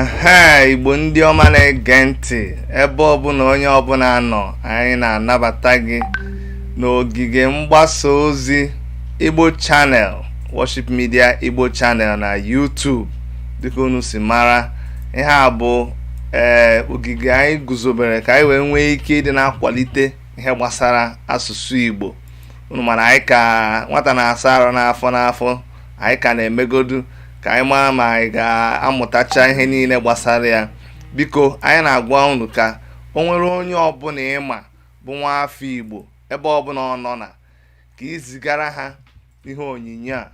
ehe igbo ndị ọma na-ege ntị ebe ọbụla onye ọbụla nọ anyị na-anabata gị n'ogige mgbasa ozi igbo channel worship media igbo channel na YouTube dịka unu si mara ihe a bụ ee eh, ogige anyị guzobere ka anyị wee nwee ike ịdị na-akwalite ihe gbasara asụsụ Igbo unu ma na anyị ka nwata na-asa arụ n'afọ n'afọ anyị ka na-emegodu ka anyị mara ma anyị ga-amụtacha ihe niile gbasara ya biko anyị na-agwa unu ka o nwere onye ọbụla ị ma bụ nwa afọ Igbo ebe ọbụla ọ nọ na ka i zigara ha ihe onyinye a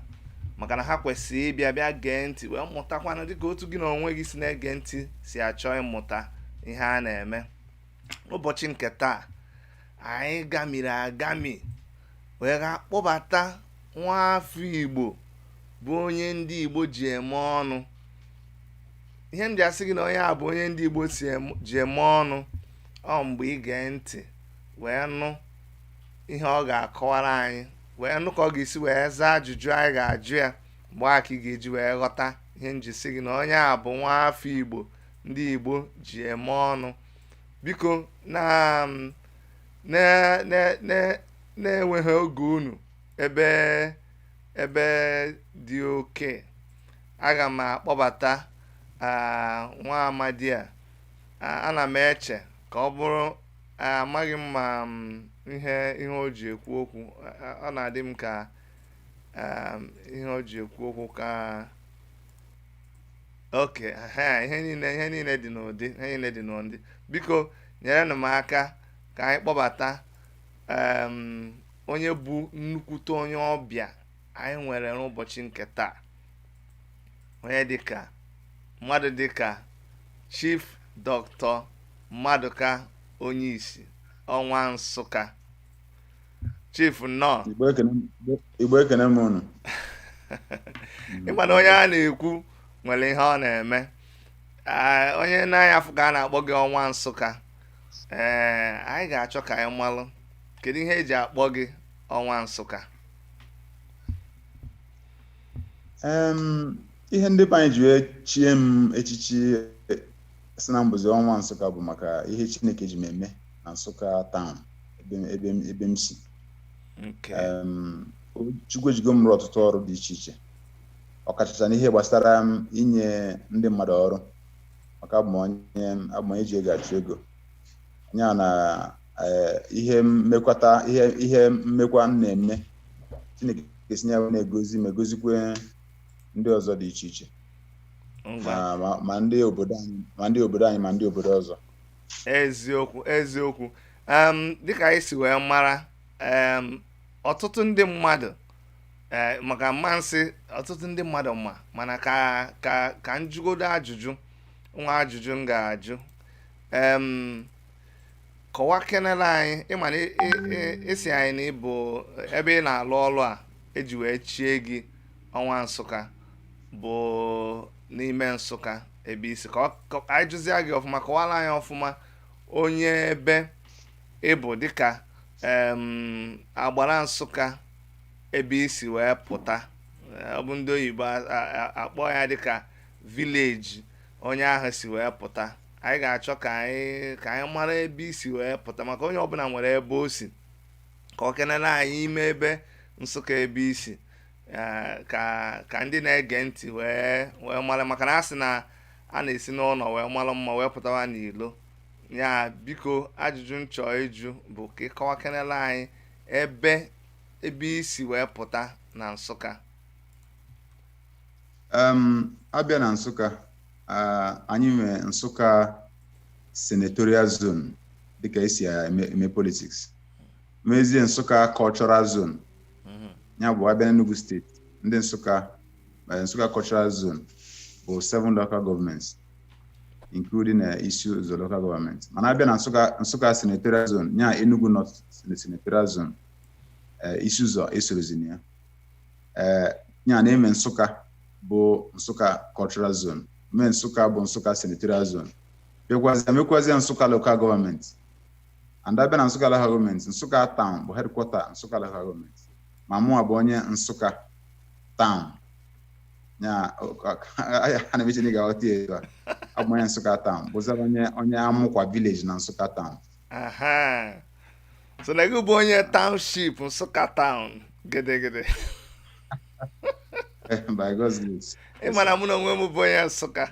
maka na ha kwesịrị ịbịa bịa gee ntị wee mụtakwana dịka otu gị na onwe gị si na-ege ntị si achọ ịmụta ihe a na-eme ụbọchị nke taa anyị gamiri agami wee gaa kpọbata nwa afọ igbo bụ onye ndị igbo ji eme ọnụ ihe m ji asị gị na onye a bụ onye ndị igbo ji eme ọnụ ọ mgbe ị gee ntị wee nụ ihe ọ ga-akọwara anyị wee nụ ka ọ ga-esi wee zaa ajụjụ anyị ga-ajụ ya mgbe a ka ị ga-eji wee ghọta ihe m ji sị gị na onye a bụ nwa afọ igbo ndị Igbo ji eme ọnụ biko na mm, na-eweghị oge unu ebe ebe dị oke aga m akpọbata nwa amadi a ana m eche ka ọ bụrụ amaghị m ma mm, ihe ihe o ji ekwu okwu ọ na-adị m ka ihe o ji ekwu okwu ka oke ihe niile ihe niile dị n'ụdị ihe niile dị n'ụdị biko nyerenụ m aka ka anyị kpọbata onye bụ nnukwute onye ọbịa anyị nwere n'ụbọchị nke taa onye dịka mmadụ dịka chief doctor Maduka Onyishi ọnwa nsụka chief nnọọ Igbo ekene m unu ị ma na onye a na-ekwu nwere ihe ọ na-eme Ah, onye na-anya afụ ka a na-akpọ gị ọnwa nsụka ee anyị ga-achọ ka anyị malụ kedu ihe e ji akpọ gị ọnwa nsụka Em, ihe ndị be anyị ji wee chie m echichi sị na m bụzi ọnwa nsụka bụ maka ihe chineke ji m eme na Nsụka town ebe m- ebe m- ebe m si nke Em, o- Chukwu ejigo m rụọ ọtụtụ ọrụ dị iche iche ọkachacha n'ihe gbasara inye ndị mmadụ ọrụ maka abụ m onye abụ m onye ji ego achụ ego ya na eh, ihe m mekwata ihe ihe m mekwa m na-eme Chineke ga-esi ya na-egozi ma egozikwe ndị ọzọ dị iche iche ngwa ma ma- ma ndị obodo anyị ma ndị obodo anyị ma ndị obodo ọzọ eziokwu eziokwu dịka anyị si wee mara ọtụtụ ndị mmadụ eh, maka m ma sị ọtụtụ ndị mmadụ ma mana ka ka ka m jụgodo ajụjụ nwa ajụjụ m ga-ajụ kọwakenere anyị ị ma na ị sị anyị na ị bụ ebe ị na-alụ ọlụ a eji wee chie gị Ọnwa Nsụka bụ n'ime nsụka ebe i si ka anyị jụzie gị ọfụma kọwara anyị ọfụma onye ebe ị bụ dịka agbara nsụka ebe i si wee pụta ọ bụ ndị oyibo akpọ ya dịka village onye ahụ si wee pụta anyị ga-achọ ka anyị ka anyị mara ebe i si wee pụta maka onye ọbụla nwere ebe o si kọwakenere anyị ime ebe nsụka ebe i si eh, ka ka ndị na-ege ntị wee wee mara maka na a sị na a na-esi n'ụlọ wee mara mma wee pụtawa n'ilo ya biko ajụjụ m chọọ ịjụ bụ ka ị kọwakenela anyị ebe ebe i si wee pụta na nsụka Em, a bịa na nsụka ah, anyị nwee nsụka senatorial zone dịka e si eme eme politics nwezie nsụka cultural zone mhm. ya bụ a bịa n'Enugu steeti ndị Nsụka eh, Nsụka cultural zone bụ seven local governments including eh, Isi Ụzọ local government mana a bịa na Nsụka Nsụka senatorial zone ya Enugu North senatorial zone eh, Isi Ụzọ esorozi na ya ee ya na e nwe Nsụka bụ Nsụka cultural zone nwee Nsụka bụ Nsụka senatorial zone nwekwazia nwekwazia Nsụka local government and a bịa na Nsụka Local Government Nsụka Town bụ headquarter Nsụka Local Government ma mụnwa bụ onye Nsụka Town ya ana m eche na ị ga-aghọta ya etu a abụ m onye Nsụka Town bụzara onye onye Amụkwa village na Nsụka Town aha so na gị bụ onye township nsụka town gedegede by God's grace ị ma na mụ na onwe m bụ onye nsụka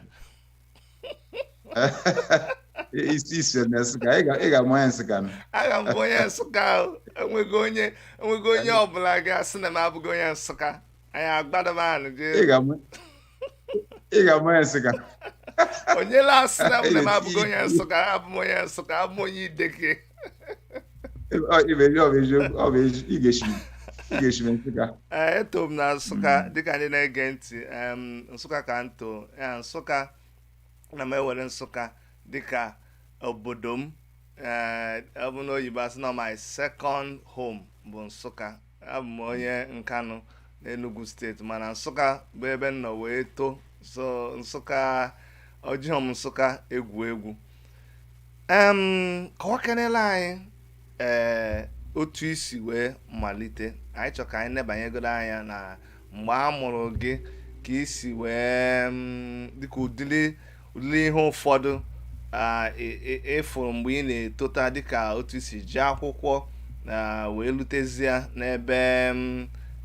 i si i si na nsụka ị ga- ị ga-ama onye nsụka nụ. aga m bụ onye nsụka ahụ enweghị onye enweghị onye ọbụla ga-asị na m abụghị onye nsụka anyị agbadaba anụ ị jee ga-ama ị ga-ama onye nsụka onye la-asị na m na m abụghị onye nsụka abụ m onye nsụka abụ m onye ideke eto m na nsụka hmm. dịka ndị na-ege ntị nsụka ka nto nsụka na m ewere nsụka dịka obodo m eh, ọ bụ n'oyibo a sị na my second home bụ nsụka abụ m onye nkanụ n'enugu state mana nsụka bụ ebe m nọ wee too so nsụka ọjọọ m nsụka egwu egwu em kọwakenela anyị ee otu i si wee malite anyị chọ ka anyị nebanyegodu anya na mgbe a mụrụ gị ka i si wee mm, dịka ụdịrị lee ihe ụfọdụ ị fụrụ mgbe ị na-etota dịka otu i si je akwụkwọ wee lutezie n'ebe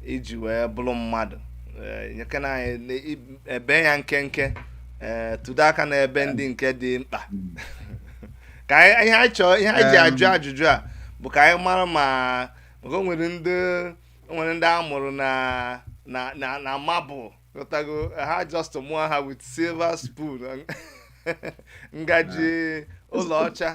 i ji wee bụrụ mmadụ e, nyekena anyị ebe ya nkenke e, tụdo aka n'ebe ndị nke dị mkpa ka ihe anyị chọọ ihe anyị ji ajụ ajụjụ a bụ ka anyị mara ma o nwere ndị nwere ndị a mụrụ na na na marble ghọtago ha just mụọ ha with silver spoon ngaji ọla ọcha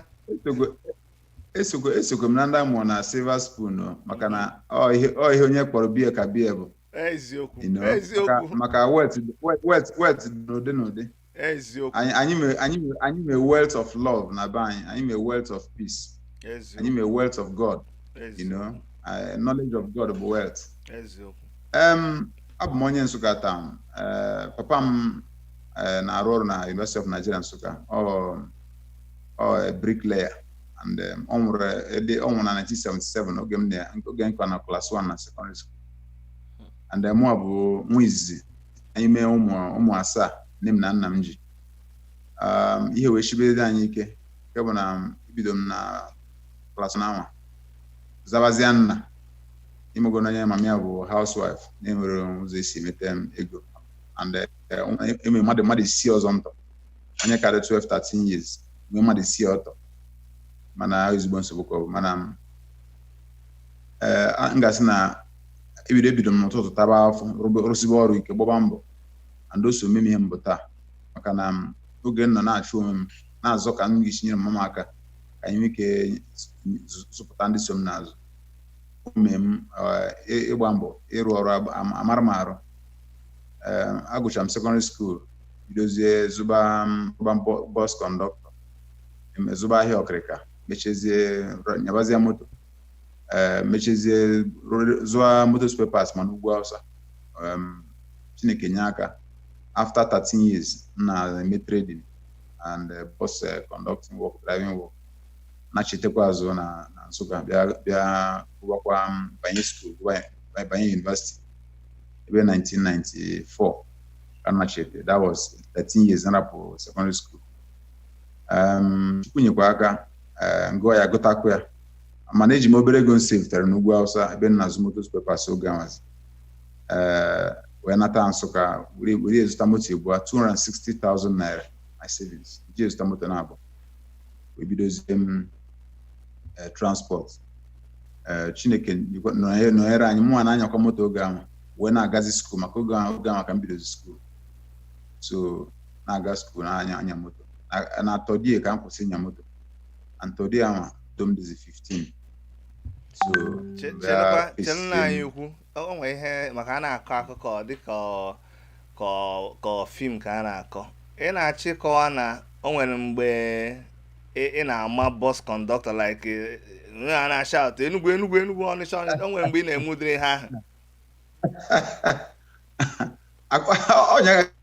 esokwe m na ndị a mụọ na silver spoon maka na ọ ihe onye kpọrọ be ya ka be ya bụ eziokwu eziokwu maka wealth wealth wealth n'ụdị n'ụdị eziokwu anyị anyị nwee anyị nwee anyị nwee wealth of love na be anyị anyị nwee wealth of peace anyị eziokwu nwee wealth of god you eziokwu know uh, knowledge of god bụ wealth eziokwu um, abụ m onye nsụka town uh, papa m uh, na-arụ ọrụ na university of nigeria nsụka ọ ọ a bricklayer and um, ọ nwụrụ eh, dị- ọ nwụrụ na 1977 oge m na oge m ka nọ na class 1 na secondary school and uh, mụ bụ nwa izizi anyị mee ụmụ ụmụ asaa nne m na nna m ji um, ihe wee shibere anyị ike nke bụ na ebido m na class 1 anwa zabazie nna ị mago na onye mama ya bụ housewife na-enwerọ ụzọ e si emete m ego and eh, enwere mmadụ mmadụ isii ọzọ m tọ onye ka dị 12 13 years nwee mmadụ isii ọ tọ mana ọ ezigbo nsogbu ka ọ bụ mana m eh, a- m ga-asị na ebido ebido m n'ụtụtụ taba afọ rụbe- rụsibe ọrụ ike gbaba mbọ and o so mee m ihe m bụ taa maka na m, oge m nọ na-achụ onwe m na-azọ ka m ga-esi nyere mma m aka ka anyị nwee ike zụ- zụpụta ndị so m n'azụ o mee m eh, ị- ịgba mbọ ịrụ ọrụ agba- am- amara m arụ Eh, agụcha m secondary school bidozie zụba m- zụba m bu- bus conductor em- zụba ahịa ọkịrịka mechezie rọ- nyabazie moto ee mechezie rụrụ- zụọ moto spare parts ma n'ugwu awụsa um, chineke nye aka after 13 years m na-eme trading and uh, bus uh, conducting work driving work nachitekwa azụ na na nsụka bịa bịa gụwakwa m banye school banye university ebe 1994 ka m nachete that was 13 years m rapụ secondary school um, chukwu nyekwa aka ee m gụọ ya gụtakwa ya mana eji m obere ego m savetere n'ugwu awụsa ebe m na-azụ moto spare parts oge anwazi ee wee nata nsụka were were zụta moto abụọ 260,000 naira my savings ji wee zụta moto na abụọ wee bidozie m eh, transport Eh, chineke nyekwa- nọnye- nọnyere anyị mụnwa na-anyakwa moto oge ahụ wee na-agazi school maka oge ahụ oge ahụ ka m bidozi school so na-aga school na-anya anya moto na- na third year ka m kwụsị ịnya moto and third year ahụ moto m dịzi 15 so Che- bịa chelụkwa face chelụ nna anyị them. ukwu o nwere ihe maka a na-akọ akụkọ ọ dịka ọ- ka ọ- ka ọ film ka a na-akọ ị na-achọ ịkọwa na o nwere mgbe ị ị na-ama bus conductor like eh, eh, a na-ashout enugwu enugwu enugwu ọnịcha ọnịcha o nwere mgbe ị na-eme ụdịrị ihe ahụ Akwa- ọ nyere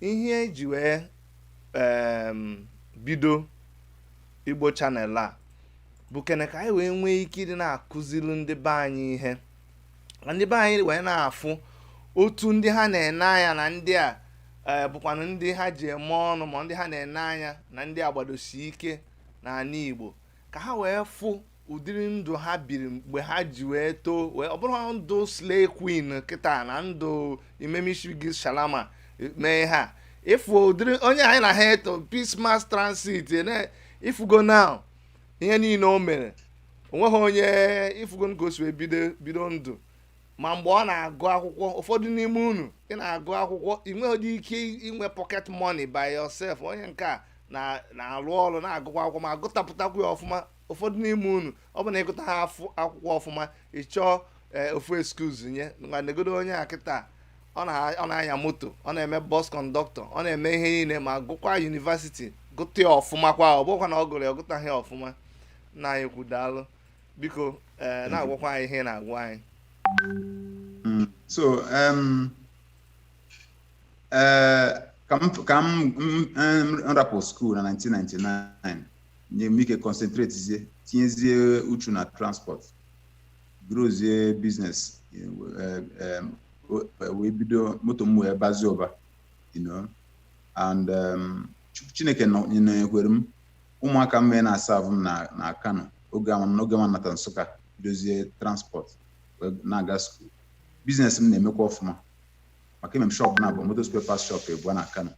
ihe eji wee em, bido igbo channel a bụ kene ka anyị wee nwee ike ịdị na-akụziri ndị be anyị ihe ka ndị be anyị wee na-afụ otu ndị ha na-ene anya na ndị a eh, bụkwanụ ndị ha ji eme ọnụ ma ndị ha na-ene anya na ndị a gbadosi ike n'anị igbo ka ha wee fụ ụdịrị ndụ ha biri mgbe ha ji wee too wee ọ bụrọ ndụ slay queen kịta na ndụ imemishigi shalama e, mee ha ịfụ ụdịrị onye anyị na ha eto peace mass transit e, ị fụgo now ihe niile o mere o nweghị onye ị fụgo ka o si wee bido bido ndụ ma mgbe ọ na-agụ akwụkwọ ụfọdụ n'ime unu ị na-agụ akwụkwọ ị nweghị ike inwe pocket money by yourself onye nke a na-alụ ọrụ na-agụkwa akwụkwọ ma gụtapụtakwu ya ọfụma ụfọdụ n'ime unu ọ bụ na ịgụtaha akwụkwọ ọfụma ị chọọ ee, ofu excuse nye ngwa negodo onye a kịta ọ na- ọ na-anya moto ọ na-eme bus conductor ọ na-eme ihe niile ma gụkwa university gụta ya ọfụma kwa ọ bụkwa na ọ gụrụ ya ọ gụtaghị ya ọfụma nna anyị ukwu daalụ biko ee, na-agwakwa anyị ihe ị na-agwa anyị Mm. So, um, uh, ka m ka m m- m rapụ school na 1999 nye m ike concentratezie tinyezie uchu na transport growzie business wee bido moto m wee bazie ụba you know and um, Chukwu chineke nọ- nọnyekwere m ụmụaka m nwee na-aserve m na na kano oge ama n'oge ma nata Nsụka bidozie transport wee na-aga school business m na-emekwa ọfụma maka enwe m shop naabọ motor spare parts shop ebua na kano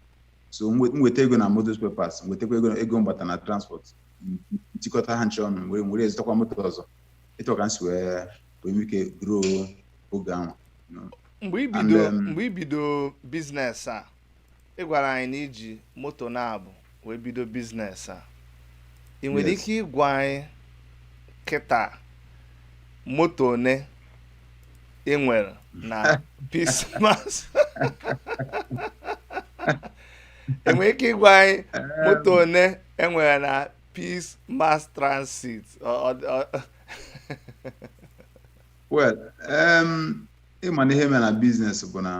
so m nweta ego na motor spare parts nwetakwa ego ego m gbata na transport m tikọta ha ncha ọnụ wee were zụtakwa moto ọzọ etu ka m si wee wee nwee ike grow oge ahụ mgbe i bido um, mgbe i bido business a ị gwara anyị na i ji moto naabọ wee bido business a ị nwere ike ịgwa anyị kịta moto one ị nwere na peace mass ị nwere ike ịgwa anyị moto one e nwere na peace mass transit well ị ma na ihe mere na business bụ na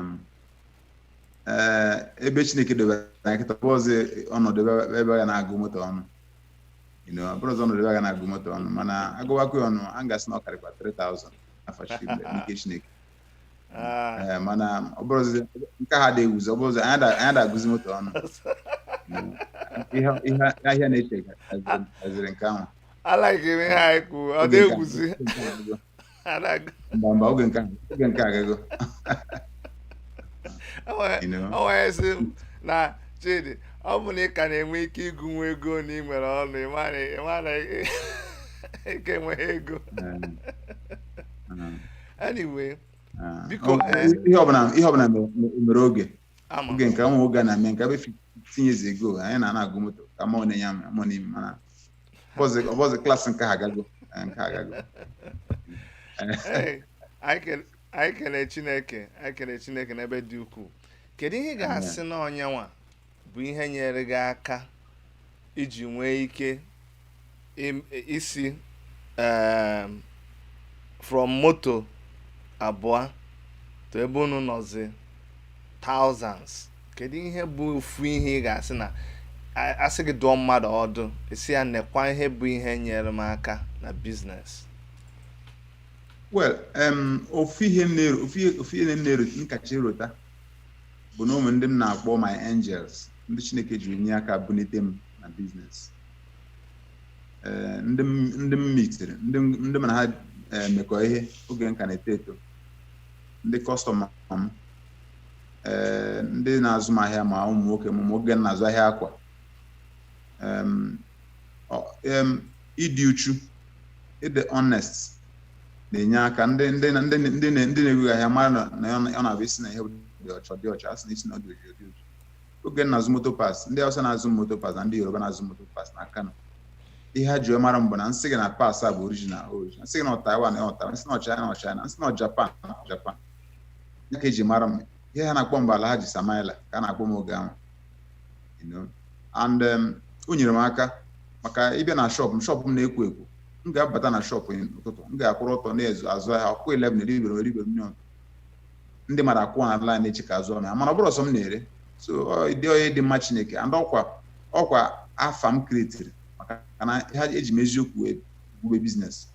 eh, ebe chineke dobere anyị kịta abụrọzị ọnọdụ ebe a ga na-agụ moto ọnụ you know ọ bụrọzị ọnọdụ ebe a ga na-agụ moto ọnụ mana a gụwakwa ya ọnụ a ga-asị na ọ karịkwa 3000 afọ chimle n'ike chineke Ah, Ee, mana ọ bụrọzị nke a adị ewuzi ọ bụrọzị anyị da- anyị da-agụzi moto ọnụ You know, ihe ihe ahịa na-eche haziri nke ahụ alaghị m ihe anyị kwuru ọ Oge nke a- na-ewuzi nke a- mba mba oge nke oge nke a agago o nwere sị m na Chidi ọ bụ na ị ka na-enwe ike ịgụnwu ego na ị nwere ọnụ ị mara na ị ka enweghị ego anyway biko ihe ọbụla mere oge Ama. oge nke nwa oge a na-eme nke ebe 15 years ago anyị na na-agụ moto ka ma onye ya ma onye ime mana ọ bụrọzị ọ bụrọzị class nke a agago eh, nke a agago Ee, anyị kele- anyị kelee chineke anyị kelee chineke n'ebe dị ukwuu kedu ihe ị ga-asị na ọ nya nwa bụ ihe nyere gị aka iji nwee ike im- isi em, from moto abụọ to ebe unu nọzi thousands kedu ihe bụ ofu ihe ị ga-asị na a- a sị gị dụọ mmadụ ọdụ ị sị ya nekwa ihe bụ ihe nyere m aka na biznes well em, ofu ihe m na-eru- ofu ihe- ofu ihe m na-eru m kacha erota bụ na o nwe ndị m na-akpọ my angels ndị chineke jiri nye aka bunite m na biznes eh, ndị m mitiri ndị m na ha eh, mekọ ihe oge m ka na-eto eto ndị kọstọma m eh, ndị na-azụ m ahịa ma ụmụ nwoke m oge m na-azụ ahịa akwa ịdị uchu ịdị honest na-enye aka ndị ndị ndị ndị na-ego gị ahịa mara na ọ na-abụ ị sị na ihe dị ọcha dị ọcha a sị na ị sị na ọ dị oji oji oge m na-azụ moto parts ndị Hausa na-azụ moto parts na ndị Yoruba na-azụ moto parts na Kano ihe ha ji wee mara m bụ na m sị gị na parts a bụ original original m sị gị na Taiwan na Taiwan m sị na China na China m sị na Japan na Japan ya ka e ji mara m ihe ha na-akpọ m bụ Alhaji Samaila ka a na-akpọ m oge ahụ you know. and um, o nyere m aka maka ị bịa na shọp m shọp m na-ekwo ekwo m ga-abata na shọp n'ụtụtụ m ga-akwụrụ ọtọ na-azụ azụ ahịa ọ kụọ 11 eribere eribere million ndị mmadụ akwụ na line na-eche ka a zụọ m ahịa mana ọ bụrọ sọ m na-ere so ọ dị onye dị mma chineke and ọkwa ọkwa afa m kretiri maka na eji m eziokwu wee bube biznes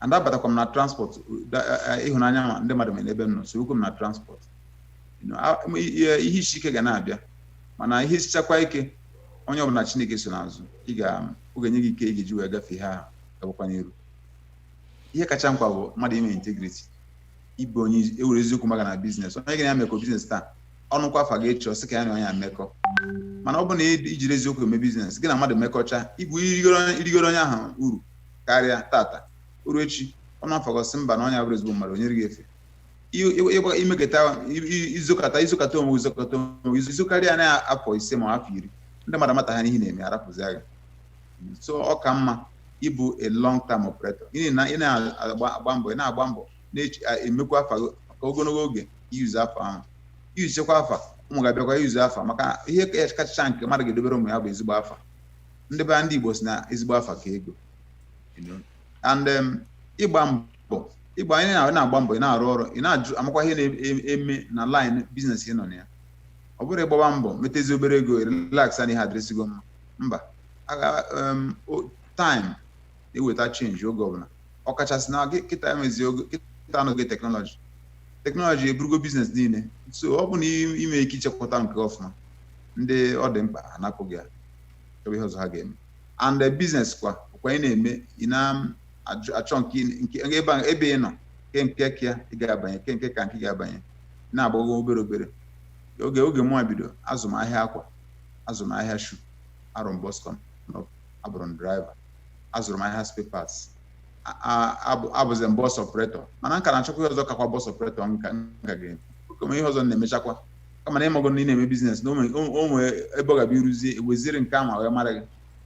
and abatakwa m na transport da- a- a- ịhụnanya m na ndị mmadụ nwere ebe m nọ sorokwa m na transport You know, a- m- ihe ihe isi ike ga na-abịa mana ihe sichakwa ike onye ọbụla chineke so n'azụ ị ga ọ ga-enye gị ike ị ga-eji wee gafee ha gabakwa n'iru ihe kacha mkpa bụ mmadụ inwe integrity ịbụ onye nwere eziokwu maka na biznes onye gị na ya mekọ biznes taa ọ nụkwa afa gị echi ọ sị ka ya na onye a mekọ mana ọ bụ na i jirọ eziokwu eme biznes gị na mmadụ mekọcha ịbụ irigoro onye ahụ uru karịa tata o ruo echi ọ nụ afa gị ọ sị mba na onye a abụrọ ezigbo mmadụ o nye gị efe i mekata i zokata i zokata onwe i zokata onwe i zokarịa na afọ ise ma afọ iri ndị mmadụ amatacha ihe ị na-eme arapụzia gị so ọ ka mma ịbụ a long term operator n'ihi na ị na-agba agba mbọ ị na-agba mbọ na-emekwa afa gị ka ogologo oge i yuzu afa ahụ i yuzuchakwa afa ụmụ gị abịakwa yuzu afa maka ihe kachacha nke mmadụ ga-edobere ụmụ ya bụ ezigbo afa ndị be ndị Igbo sị na ezigbo afa ka ego you know. and um, ịgba mbọ ịgba anyị na- na-agba mbọ ị na-arụ ọrụ ị na-ajụ amakwa ihe na-eme na line biznes ị nọ na ya ọ bụrọ ị gbaba mbọ metazie obere ego relax na ihe adịrịsịgo mma mba time na-eweta change oge ọbụla ọkachasị na kịta emezi oge kịta anọghị teknọlọji teknọlọji eburugo biznes niile so ọ bụ na ime ike ichekwata nke ọfụma ndị ọ dị mkpa anapụ gị ya chọba ihe ọzọ ha ga-eme and the business kwa kwa ị na-eme ị na-achọ nke ebe ị nọ ke nke ka ya ị ga-abanye ke nke ka nke ga-abanye na-agbago obere obere oge oge mụwa bido azụ m ahịa akwa azụrụ m ahịa shu arụ m bọs kọ abụrụ m driver azụrụ m ahịa spare parts abụzi m bọs operator mana m ka na-achọkwa ihe ọzọ kakwa bọs operator m ka ga-eme kama ihe ọzọ m na-emechakwa kama na ịmago na ị na-eme biznes na o nwee ebe ọ ga-abịa iruzie eweziri nke ahụ wee mara gị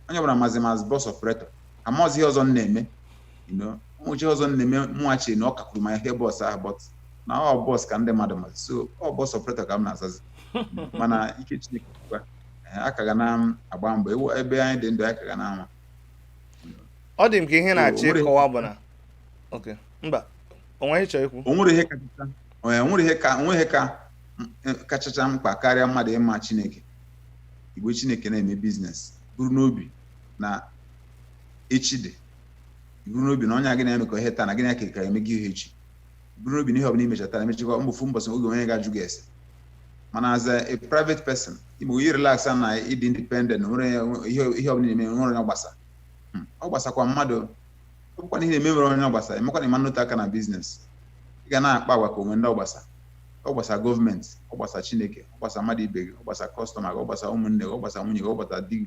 onye ọbụla mazi m as bọs operator amazi ihe ọzọ m na-eme you know o nwecha ihe ọzọ m na-eme mụwa che na ọ kakwuru mma ihe bọs ahụ but na ọ bọs ka ndị mmadụ mazi so ọ bọs operator ka m na-azazi mana n'ike chineke kwa a ka ga na-agba mbọ ewu ebe anyị dị ndụ a ka ga na-anwa ọ dị m ka ihe ị na-achọ ịkọwa bụ na okay mba o nwe ihe ị chọrọ ikwu o nwere ihe kachacha o nwere ihe ka o nwe ihe ka kachacha mkpa karịa mmadụ ịma chineke igbe chineke na-eme biznes buru n'obi na echi dị iburu n'obi na onye a gị na-emekọ ihe taa na gị na ya ka eme gị ihe echi iburu n'obi na ihe ọbụla imecha taa emechakwa n'ofu mbọsị o nwee onye ga-ajụ gị ese mana as a a private person igbo yi relax na ịdị independent na nwere ihe ihe ọbụla ị na-eme nwere onye ọ gbasa Hmm, ọ gbasakwa mmadụ ọ bụkwa na ihe ị na-eme nwere onye ọ gbasa emekwa na ịma nnụta aka na biznes ị ga na-akpa agwa ka o nwe ndị ọ gbasa ọ gbasa gọọmenti ọ gbasa chineke ọ gbasa mmadụ ibe gị ọ gbasa kọstọma gị ọ gbasa ụmụnne gị ọ gbasa nwunye gị ọ gbasa di gị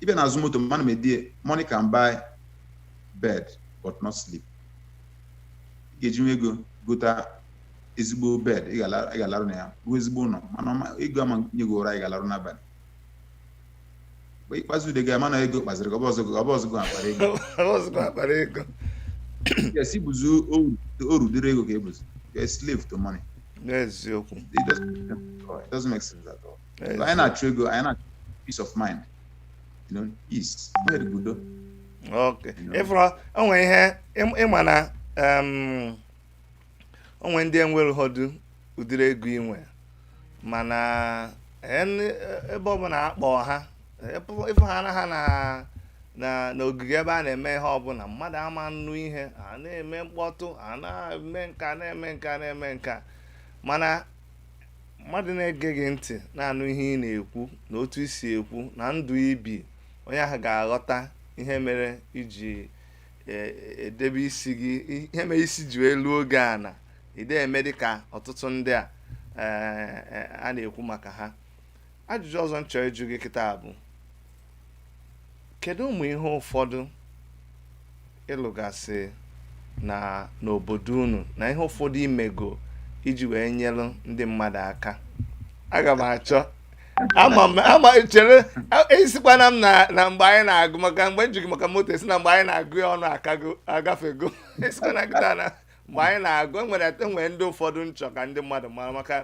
ị bịa n'azụ moto m ana m edie money can buy bed but not sleep ị ga-ejinwu ego gota ezigbo bed ị ga-ala- ị ga-alarụ na ya rụọ ezigbo ụlọ mana ọma- ego ama enye gị ụra ị ga-alarụ n'abalị mgbe ikpeazụ ude ga-ama na ego kpaziri gị ọ bụrọzi gị- ọ bụrọzi gị kpara ego ọzụkwa akpara ego yes ị bụzi oru oru dịrị ego ka ị bụzi You're a slave to money n'eziokwu it doesn't, it doesn't make sense at all anyị na-achụ ego anyị na-achụ peace of mind you know peace nwere udo okay ị fụrụ o nwere ihe ịma na o nwere ndị nwere ụfọdụ ụdịrị ego inwe mana ebe ọbụla akpọ ha ịfụ ha na ha na na n'ogige ebe a na-eme ihe ọbụla mmadụ ama anụ ihe a na-eme mkpọtụ a na-eme nka na-eme nka na-eme nka mana mmadụ na-ege gị ntị na-anụ ihe ị na-ekwu na otu i si ekwu na ndụ i bi onye ahụ ga-aghọta ihe mere iji e- edebe isi gị ihe mere isi ji wee luo oge a na ide eme dị ka ọtụtụ ndị a eh, eh, a na-ekwu maka ha ajụjụ ọzọ m chọrọ ịjụ gị kịta bụ kedu ụmụ ihe ụfọdụ ị lụgasị na n'obodo unu na ihe ụfọdụ i mego iji wee nyelu ndị mmadụ aka aga m achọ ama chere esikwana m na mgbe anyị na-agụ maka mgbe m jụ gị maka moto esi na mgbe anyị na-agụ ya ọnụ akago agafego esikwana gị na mgbe anyị na-agụ enwere enwere ndị ụfọdụ m chọ ka ndị mmadụ mara maka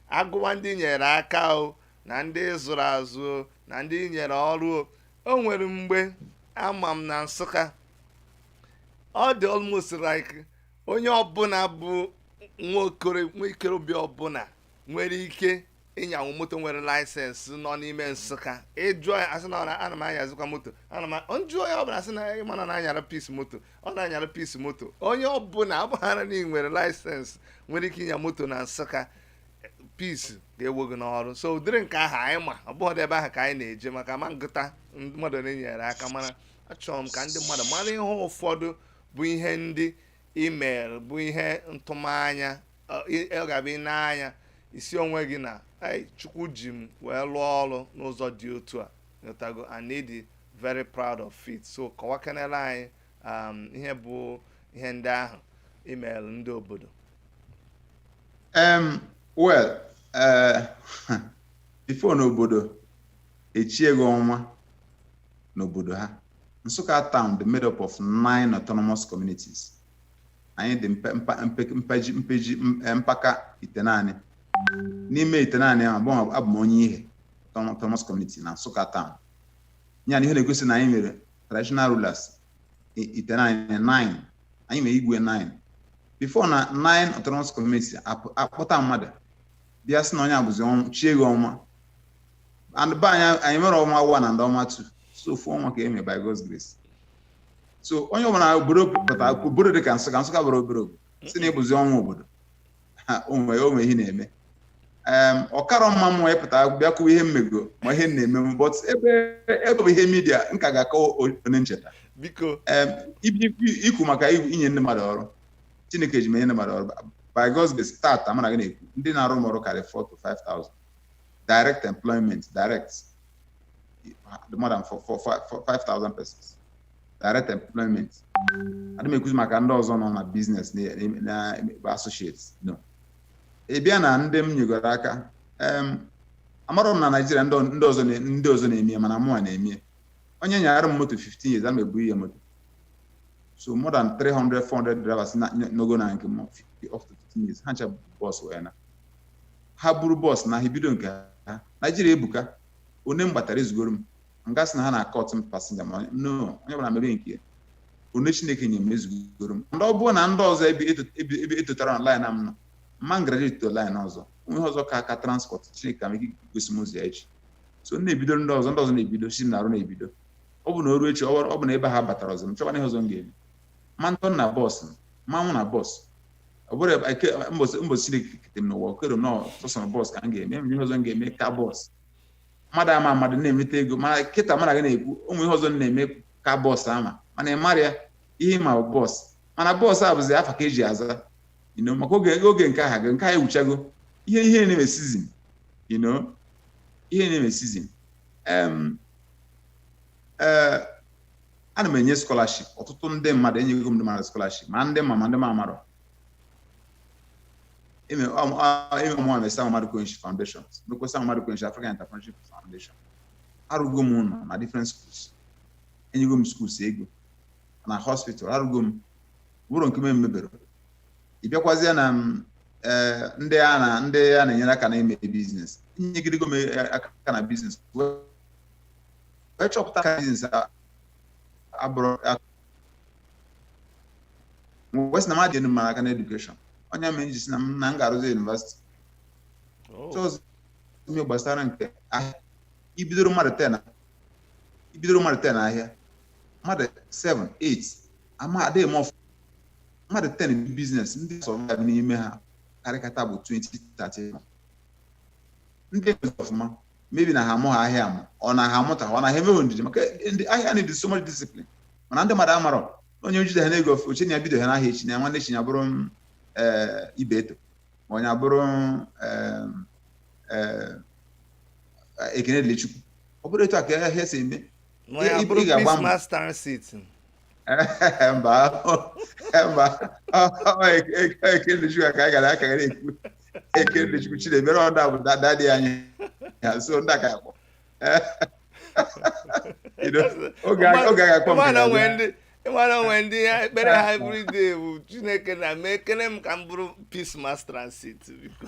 a gụwa ndị nyere aka o na ndị zụrụ azụ o na ndị nyere ọrụ o o nwere mgbe ama m na nsụka ọ dị almost like onye ọbụla bụ nwa okoro nwa ikorobịa ọbụla nwere ike ịnyanwu moto nwere license nọ n'ime nsụka ị jụọ ya asị na ọ na- ana m anyazikwa moto ana m m jụọ onye ọbụla asị na ị ma na na-anyara Peace moto ọ na-anyara Peace moto onye ọbụla ọ bụhara na ị nwere license nwere ike ịnya moto na nsụka Peace ga-ewe gị n'ọrụ so ụdịrị nke ahụ anyị ma ọ bụghị ebe ahụ ka anyị na-eje maka ma ngụta mmadụ na-enyere aka mana achọrọ m ka ndị mmadụ mara ihe ụfọdụ bụ ihe ndị i mere bụ ihe ntụmanya ọ ga-abụ ị na-anya isi onwe gị na chukwu ji m wee lụọ ọrụ n'ụzọ dị otu a ị ghọtago and ị dị very proud of it so kọwakenere anyị um, ihe bụ ihe ndị ahụ i meelụ ndị obodo um, well uh, before na obodo echie gị ọnwa n'obodo ha Nsukka town dị made up of nine autonomous communities anyị dị mpe mpa mpe mpeji mpeji m- eh, mpaka itenaanị n'ime itenaanị ahụ abụ m- abụ m onye Ihe auto- autonomous community na Nsụka Town ya na ihe na-egosi na anyị nwere traditional rulers i- itenaanị nine anyị nwere igwe nine before na nine autonomous community apụ- akpọta mmadụ bịa sị na onye a bụzi ọnwa chie gị ọnwa and be anyị anyị enwerọ ọnwa one and ọnwa two so ofu ọnwa ka e nwere by God's grace so onye ọbụla obodo pụta obodo dị ka nsụka nsụka abụrọ obere obodo sị na ị bụzi ọnwa obodo ha o nwe o nwe ihe ị na-eme em ọ karọ mma m apụta bịa kwuo ihe m mego ma ihe m na-eme m but ebe ebe bụ ihe media m ka ga-akọwa o- onye ncheta biko Em, ibi- ibi- i kwu maka i- inye ndị mmadụ ọrụ chineke ji m enye ndị mmadụ ọrụ by God's grace tata mụ na gị na-ekwu ndị na-arụ m ọrụ karịrị 4 to 5000 direct employment direct more than 5,000 persons direct employment adị m ekwuzi maka ndị ọzọ nọ na business na associates no ị bịa na ndị m nyegoro aka amarọ m na naijiria ndị ọzọ ndị ọzọ na-emie mana mụnwa na-emie onye nyaara m moto 15 years ana m ebunye moto so more than 300 400 drivers nọgo na nke m up to 15 years ha ncha bus owner ha buru bọs na ha ebido nke ha naijiria ebuka onye m gbatara ezugoro m m ga-asị na ha na-akọt m pasinja ma no onye ọbụla mebe nke ya onye chineke nye m ezugoro m ndị ọ bụrụ na ndị ọzọ ebe eto- ebe ebe etotara na laịn m nọ mma m graduate to laịn ọzọ o nwee ihe ọzọ ka aka transport chineke ama ike gosi m ụzọ ya echi so m na-ebido ndị ọzọ ndị ọzọ na-ebido si m na-arụ na-ebido ọ bụ na o ruo echi ọ bụrụ- ọ bụ na ebe ha batara ọzọ m chọkwa ihe ọzọ m ga-eme ma ntọ m na bọs m ma anwụ na bọs ọ bụrụ ebe- ike- mbọsị mbọsị Chineke kete m n'ụwa o kerọ m na sọsọ bọs ka m ga-eme enwere ihe ọzọ m ga-eme ka bọs mmadụ ama mmadụ na-emeta ego mana kịta mmadụ ga na-ekwu o nwe ihe ọzọ m na-eme ka bọs ama mana ị mara ya ihe ị ma bụ bọs mana bọs a bụzi afa ka eji aza you know, maka oge oge nke aha gị nke ha ewuchago ihe ihe na-eme sizin you know, ihe na-eme sizin Em, eh, ana m enye scholarship ọtụtụ ndị mmadụ enyego m ndị mmadụ scholarship ma ndị m ma ma ndị m amarọ ị ma ọ mụwa nwe Sam Maduka Onyishi Foundation nwekwa Sam Maduka Onyishi African Entrepreneurship Foundation arụgo m ụlọ na different schools enyego m schools ego na hospital arụgo m o nwerọ nke m emeberọ ị bịakwazie na mm, eh, ndị a na ndị a na-enyere aka na-eme biznes enyegidego m eh, aka na biznes wee chọpụta ka biznes a- abụrọ ya wee sị na m ga-enye mmadụ aka na edukeshọn ọ ya mere m ji si na m na m ga-arụzi yunivasiti Oh. chọọzụ ihe gbasara nke ahịa i bidoro mmadụ 10 na- i bidoro mmadụ 10 n'ahịa mmadụ 7 8 ama adịghị m ọfụ mmadụ 10 bi biznes ndị sọvaịv n'ime ha karịkata bụ 20 30 ndị ọzọ ọfụma maybe na ha amụghị ahịa amụ or na ha amụta or na ha enweghị ndidi maka na ahịa need so much discipline mana ndị mmadụ amarọ onye jidehana ego ofe o che na ya bidohana ahịa echi na ya nwanne echi ya bụrụ m, eh, Ibeto or na ya abụrụ m, eh, eh, Ekene Dili Chukwu ọ bụrọ etu a ka ahịa si eme Nwa ya Ị- ị- bụrụ ị ga-agba mbọ. Peace Mass Transit. mba mba Ekene Dili Chukwu ka anyị gara aka gara ekwu Ekene Dili Chukwu chinemere ọda bụ da- daddy anyị ya so ndị a ga-akpọ ị mara o nwe ndị ekpere ha everyday bụ chineke na mekenụ m ka m bụrụ Peace Mass Transit biko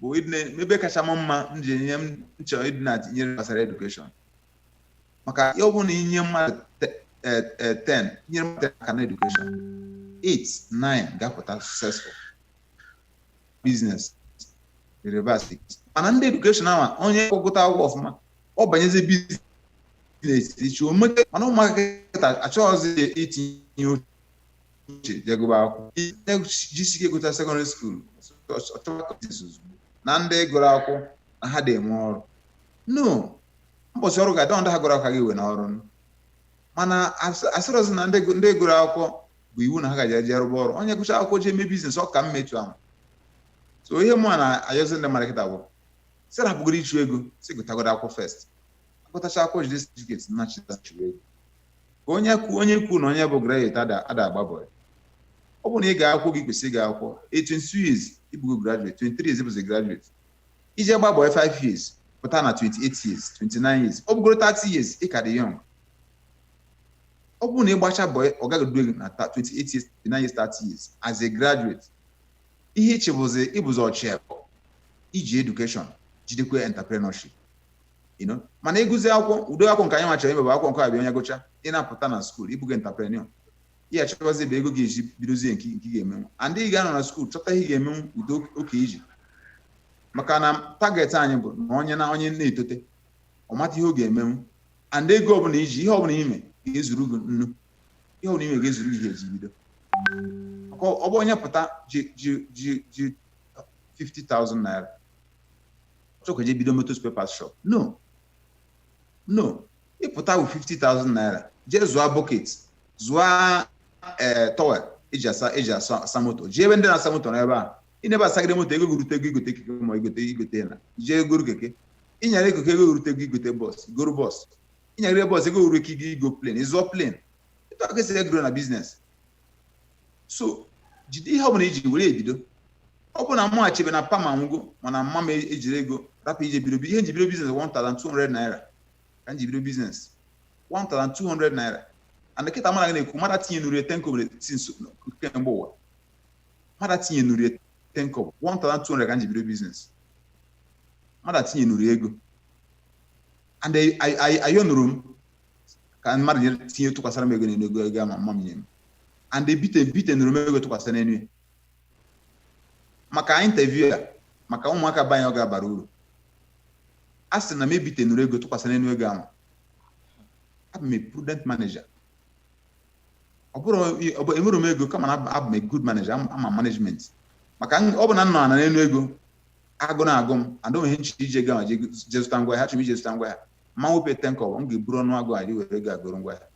bụ ebe kacha m mma m ji enye m nchọ ịdị na-etinye ihe gbasara edukeshọn maka ọ bụrụ na i nye mmadụ 10 e, e, nyere mmadụ aka na edukeshọn 8 9 ga-apụta successful biznes reverse mana ndị edukeshọn ahụ onye gụta akwụkwọ ọfụma ọ banyezi biznes na-etiti chi omeke mana ụmụaka kịta achọghịzi itinye uche uche jee gụba akwụkwọ ihe jisi ike gụcha sekọndịrị skuul ọchọwa kọtis ozugbo na ndị gụrụ akwụkwọ na ha adị enwe ọrụ no mbọchị ọrụ ga-adị ndị ha gụrụ akwụkwọ ga-ewe na ọrụ mana asịrọzi na ndị gụ- ndị gụrụ akwụkwọ bụ iwu na ha gaje jee rụba ọrụ onye gụcha akwụkwọ jee mee biznes ọ ka mma etu ahụ so ihe mụ na-ayọzi ndị mmadụ kịta bụ sị ha rapụgodo ịchụ ego sị gụtagodo akwụkwọ first agụtacha akwụkwọ jide certificate na chịta chụwa ego ka onye kwu onye kwu na onye bụ graduate ada ada agba bọị ọ bụrụ na ị gaa akwụkwọ oge i kwesịrị ịga akwụkwọ 22 years ịbụgo graduate 23 years ịbụzi graduate ị jee gba bọị 5 years pụta na 28 years 29 years ọ bụgoro 30 years ị ka dị young ọ bụrụ na ị gbacha bọị ọga gị duo gị na ta- 28 years 29 years 30 years as a graduate ihe ị chị bụzi ịbụzi ọchị abụọ i ji education jidekwa entrepreneurship you know mana ịgụzi akwụkwọ ụdị akwụkwọ nke anyị nwa chọrọ ime bụ akwụkwọ nke abịa onye gụcha ị na-apụta na skuul ịbụgo entrepreneur ihe achọwazi bụ ego ga-eji bidozie nke nke ị ga-emenwu and ị ga-anọ na skuul chọta ihe ị ga-emenwu ụdị oke iji maka na target anyị bụ na onye na onye na-etote ọ mata ihe ọ ga-emenwu and ego ọbụla i ji ihe ọbụla ime ga-ezuru gị na ihe ọbụla ime ga-ezuru gị ihe eji bido maka ọ bụ onye pụta ji ji ji ji 50,000 naira chọkwa ije bido moto spare parts shop no no ịpụta with 50,000 naira jee zụọ bucket zụọ ee towel eji asa eji asa asa moto jee ebe ndị na-asa moto n'ebe a ị nọ ebe a sagide moto ego gị rute ego igote keke ma igote igote na jee goro keke ịnyara ego ka ego gị rute ego igote bọs goro bọs ịnyagide bọs ego gị ruo nke igo plane ị zụọ plane etu a ka esi e-grow na biznes so jide ihe ọbụla i ji were ebido ọ bụ na mụ achebe na pa m anwụgo mana mma m ejirọ ego rapụ ije bido ihe nji bido biznes 1200 naira ka nji bido biznes 1200 naira and kịta mụ na gị na-ekwu mmadụ etinyenurọ ya ten kobo since kemgbe ụwa mmadụ etinyenurọ ya ten kobo 1200 ka nji bido biznes mmadụ etinyenurọ ya ego and ayọnụrọ m ka mmadụ nyere tinye tụkwasara m ego n'enu ego ego a mma m nye m and ebite bitenụrọ m ego tụkwasị n'enu ya maka interview a maka ụmụaka be anyị ọ ga-abara uru a sị na m ebitenụrọ ego tụkwasị n'enu ego ahụ abụ m a prudent manager ọ bụrọ ọ bụ enwerọ m ego kama na abụ- abụ m a good manager ama ama m management maka m- ọ bụ na m nọ na n'enu ego agụụ na-agụ m and o nwee ihe m chọrọ iji ego ahụ je je zụta ngwa ahịa achọrọ m ije zụta ngwa ahịa ma wepụ ten kobo m ga-eburu ọnụ agụụ were ego a goro ngwa ahịa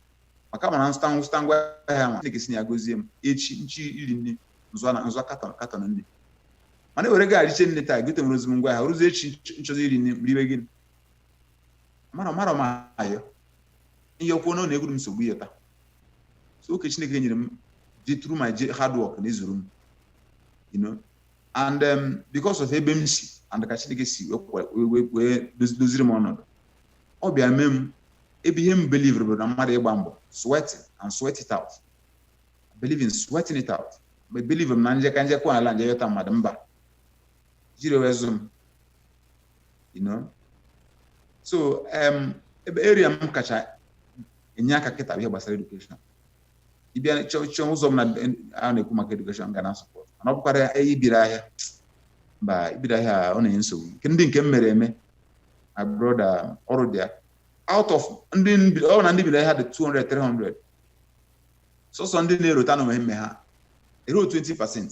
maka m ma na m zụta m zụta ngwa ahịa na Chineke si na ya gozie m echi m chọ iri nni m zụa m zụa katọn katọn nni mana m were ego a richie nni taa gote enwerọzi m ngwa ahịa ruzie echi m chọzi iri nni m ga-eribe gịnị marọ marọ m ayọ ihe kwuo na ọ na-egwuru m nsogbu ya taa so oke Chineke nyere m ji through my hard work na-ezuru m you know and um, because of ebe m si and ka Chineke si wee doziri m ọnọdụ ọ bịa mee m ebe ihe m believe bụ na mmadụ ịgba mbọ sweat and sweat it out believe in sweating it out ma believe m na njeka njekwa ala m je yọta mmadụ mba ejirọ wee zụ m you know so um, ebe area m kacha enye aka kịta ihe gbasara education ịbịa chọọ ụzọ m na a na-ekwu maka education m ga na support mana ọ bụkwara ibiri ahịa mba ibiri ahịa ọ na-enye nsogbu nke ndị nke m mere eme my brother ọrụ dị ya out of ndị ọ na ndị biri ahịa dị 200 300 sọsọ ndị na-erota na o nwe ihe m mee ha erurọ 20 percent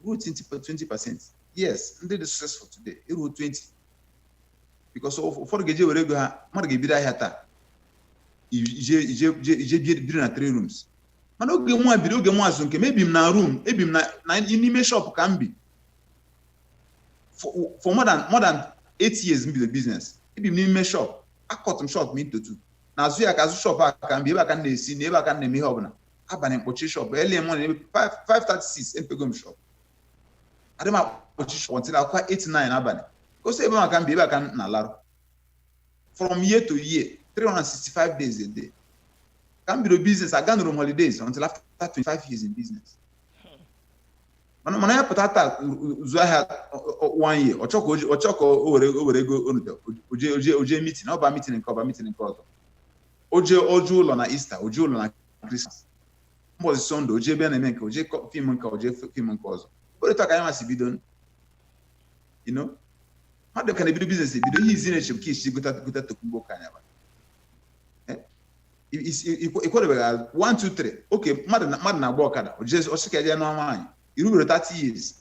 erurọ 20 percent yes ndị dị successful today erurọ 20 because ụfọdụ ga-eje were ego ha mmadụ ga-ebido ahịa taa o je biri na three rooms mana oge mwa biri oge mwa na-azụ nke m ebi m na room ebi m na n'ime shop ka m bi for more than more than eight years m bido business ebi m n'ime shop akọt m shop m into two na azụ ya ka azụ shop a ka m bi ebe a ka m na-esi na ebe a ka m na-eme ihe ọbụla abalị m kpọchi shop early morning 536 emepego m shop adị m akpọchi shop until ọ kụa 8 9 abalị o si ebe maka m bi ebe a ka m na-alarụ from year to year 365 days a day ka m bido business aganurọ m holidays until after 25 years in business mana mana ya pụta taa zụọ ahịa one year ọ chọkọ ọ chọkọ o were o were ego o nwete o je o je o je meeting ọ ba meeting nke a ọ ba meeting nke ọzọ o je o je ụlọ na Easter o je ụlọ na Christmas mbọchị Sunday o je ebe a na-eme nke a o je film nke a o je film nke ọzọ ọrọ etu a ka anyị nwa si bido you know mmadụ ka na-ebido business ebido ihe izi na-eche ka i si gota gota tokumbo car ị nyaba ikwerebeghị azụ 1 2 3 oke mmadụ na-agba ọkada ọ sị ka ọ je nụọ nwaanyị i rubero 30 years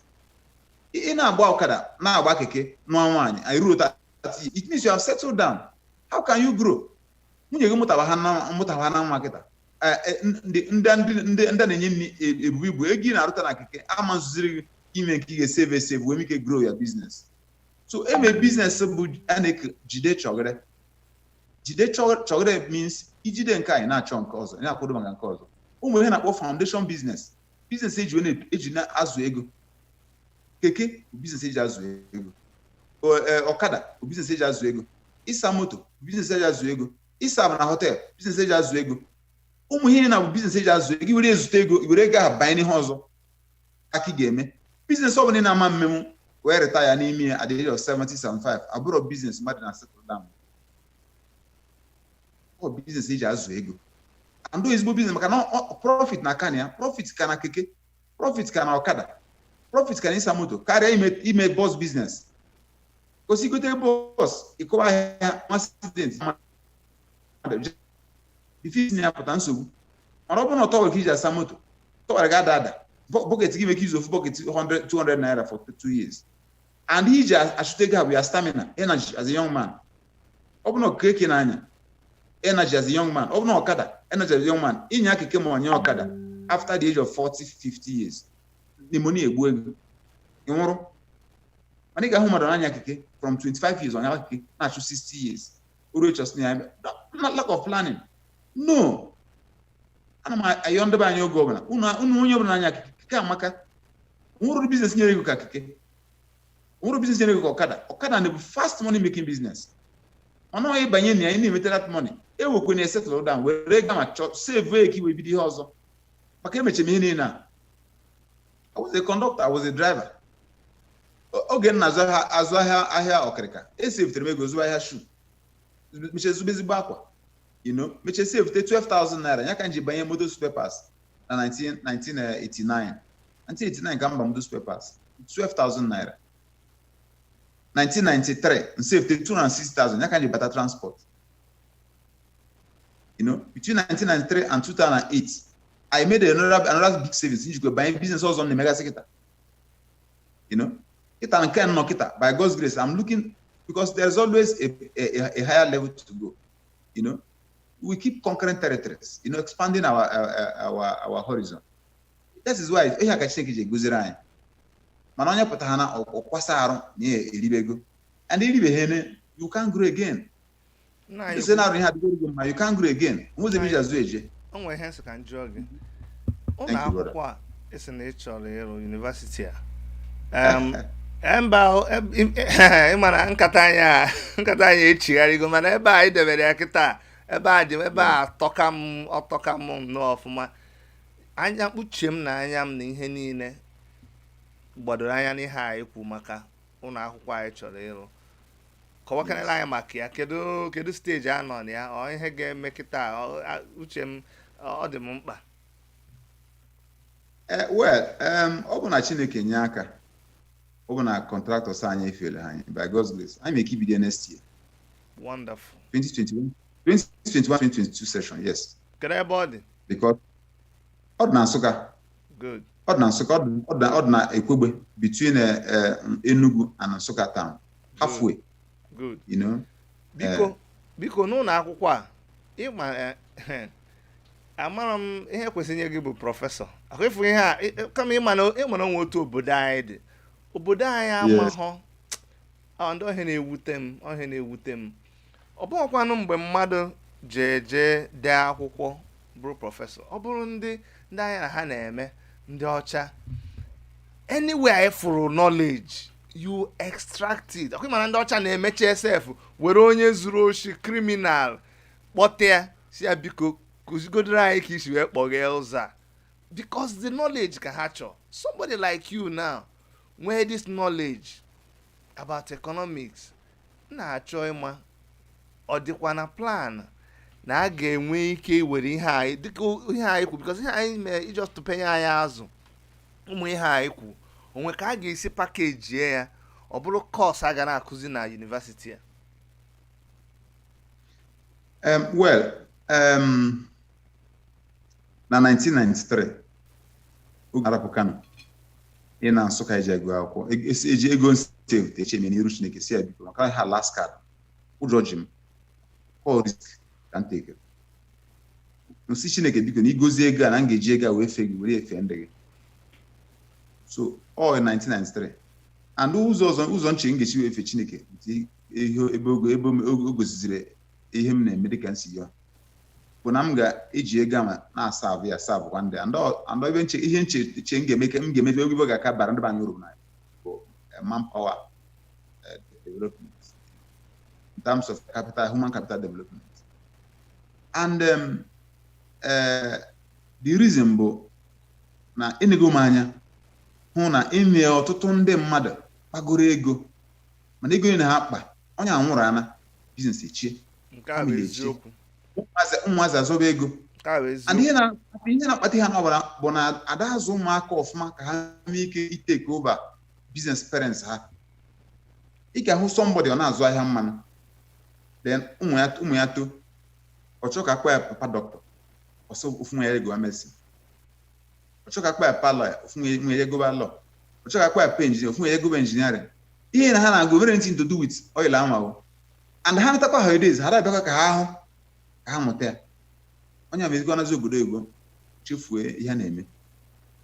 ị na-agba ọkada na-agba keke nụọ nwaanyị i rurọ 30 years it means you have settled down how can you grow nwunye gị mụtara ha na- mụtara ha na nwa kịta Eh, eh, ndị ndị ndị ndị ndị a na-enye nri e- ebubu ibu ego ị na-arụta na keke ama ezuziri gị ime nke ị ga-eseve eseve wee nwee ike grow your business so ime business bụ a na-eke jide chọgịrị jide chọ- chọgịrị means i jide nke a ị na-achọ nke ọzọ ị na-akwado maka nke ọzọ o nwere ihe a na-akpọ foundation business business eji wee na- eji na-azụ ego keke bụ biznes eji azụ ego O- e, ọkada bụ biznes eji azụ ego ịsa moto bụ biznes eji azụ ego ịserve na họtel biznes eji azụ ego ụmụ ihe na bụ biznes eji azụ ego i were ezute ego i were ego ahụ banye n'ihe ọzọ ka ka ị ga-eme biznes ọ bụla ị na-ama mmemme wee retire n'ime ya at the age of 70 75 ọ bụrọ biznes mmadụ na settle down ọ bụ biznes eji azụ ego and do ezigbo biznes maka na ọ- ọ- profit na-aka na ya profit ka na keke profit ka na ọkada profit ka na ịsa moto karịa ime ime bọs biznes 'cause i gote bọs ịkọwa ahịa accident ife si ya pụta nsogbu mana ọ bụrụ na ọ towel ka i ji asa moto towel gị ada ada bọ- bọket gị make use of bọket 100 200 naira for two years and iji achụta ego a bụ your stamina energy as a young man ọ bụ na ọ keke na-anya energy as a young man ọ bụ na ọkada energy as a young man ị nyaa keke ma ị nyaa ọkada after the age of 40 50 years pneumonia egbue gị ị nwụrụ mana ị ga-ahụ mmadụ na-anya keke from 25 years ọ nyaa keke na-achụ 60 years oru echọs na ya lack of planning no ana m ayọ ndị be anyị oge ọbụla unu onye ọbụla na-anya keke keke amaka nwerọ biznes na-enye ego ka keke nwerọ biznes na-enye ego ka ọkada ọkada na-abụ fast money making biznes mana onye banye na ya ị na-emeta that money ewekwene settle down were ga ma chọọ save ka i wee bido ihe ọzọ maka emechee m ihe niile a I was a conductor, I was a driver. oge m na-azụ ahịa azụ ahịa ahịa ọkịrịka esavetere m ego zụba ahịa shu mechee zụba ezigbo akwa you know mechee savete 12,000 naira ya ka m ji banye moto spare parts na 19- 1989 1989 ka m ba moto spare parts 12,000 naira 1993 m savete 206,000 ya ka m ji bata transport you know between 1993 and 2008 I made another another big savings m jikwa banye business ọzọ m na-emegasị kịta you know kịta nke m nọ kịta by God's grace I'm looking because there's always a, a, a- a higher level to go you know we keep conquering territories, you know, expanding our our our, our horizon. This is why ihe ka Chineke ji gọziri anyị mana onye pụtara na ọ kwasa arụ na ya eribego and i ribe ha eme you can't grow again ị sị na arụ ihe adịgo gị mma you can't grow again nwụzi m ji azụ eje o nwere ihe m sị ka m jụọ gị ụlọ akwụkwọ a e sị na ị chọrọ ịrụ yunivasiti a e, mba e, e, ị ma na nkata anyị nkata anyị echigharịgo mana ebe a i debere ya kịta ebe a dị ebe atọka m ọ tọka m nnọọ ọfụma anya m uche m na anya m na ihe niile gbadoro anya n'ihe a i kwu maka ụlọ akwụkwọ a ị chọrọ ịrụ kọwakanala anyị maka ya kedu kedu steji a nọ na ya ọ ihe ga-eme kịta uche m ọ dị m mkpa Eh, well ọ bụ na Chineke nye aka ọ bụ na contractors anyị efailọ anyị by God's grace anyị nwe ike ibido next year wonderful 2021 2021 2022 session yes kedu ebe ọ dị because ọ dị na Nsụka good ọ dị na Nsụka ọ dị na Ekwegbe between eh, eh, Enugu and Nsụka town halfway good you know biko biko n'ụlọ akwụkwọ a ịma amara m ihe kwesịrị inye gị bụ prọfesọ ọkwa ịfụ ihe a ị- ị- kama ịma na ịma na o nwe otu obodo anyị dị obodo anyị amahọ ọ ndị ọ ihe na-ewute m ọ ihe na-ewute m ọ bụghịkwanụ mgbe mmadụ ji jee dee akwụkwọ bụrụ prọfesọ ọ bụrụ ndị ndị anyị na ha na-eme ndị ọcha anywhere anyị fụrụ knowledge you extract it ọkwa ịma na ndị ọcha na-emecha sef were onye zuru oshi criminal kpọta ya sị ya biko kụzigodoro anyị ka i si wee kpọghee ụzọ a because the knowledge ka ha chọọ somebody like you now nwee this knowledge about economics na-achọ ịma ọ dịkwa na plan na a ga-enwe ike iwere ihe anyị dịka ihe anyị kwu because ihe anyị mee i just openye anyị azụ ụmụ ihe anyị kwu o nwe ka a ga-esi pakejie ya ọ bụrụ course a ga na-akụzi na university a Um, well, um, na 1993 oge m rapụ Kano ịna Nsụka eje agụ akwụkwọ e- esi- eji ego m savete eche m n'iru Chineke sị ya biko maka ha last card ụjọ ji m ọ risk ka m tekere m sị Chineke biko na i gozie ego a na m ga-eji ego a wee fee gị were fee ndị gị so all in 1993 and ụzọ ọzọ ụzọ m che m ga-esi wee fee Chineke ihe ebe ogo ebe m- ogo- o goziziri ihe m na-eme dịka m sị ya bụ na m ga-eji ego a m na-aserve ya aservekwa ndị ya. Ndị ọ- ndị ebe m che ihe m che che m ga-eme ka m ga-eme ife ga-aka bara ndị be anyị uru na bụ eh, manpower eh, development in terms of capital human capital development and um, eh, the reason bụ na enego m anya hụ na e nwe ọtụtụ ndị mmadụ kpagoro ego mana ego niile ha kpa onye a nwụrụ ana business echie nke a bụ Family echie. eziokwu ụmụazị ụmụazị azọba ego nke a bụ and eziokwu ihe na- ihe na-akpata ihe a number one bụ na ada azụ ụmụaka ọfụma ka ha nwee ike itake over business parents ha ị ga-ahụ somebody ọ na-azụ ahịa mmanụ then ụmụ ya ụmụ ya too ọ chọọ ka a kpọwa ya papa doctor ọ sị ofu nwa ya gụwa medicine ọ chọọ ka a kpọọ ya pa lawyer ofu nwa ya agụba law ọ chọọ ka a kpọọ ya pa engineer ofu nwa ya agụba engineering ihe na ha na-agụ enwerọ anything to do with oil anwa o and ha natakwa holidays ha ada abịakwa ka ha ahụ ka ha mụta ya onye a mezikwa nazi obodo oyibo chefue ihe a na-eme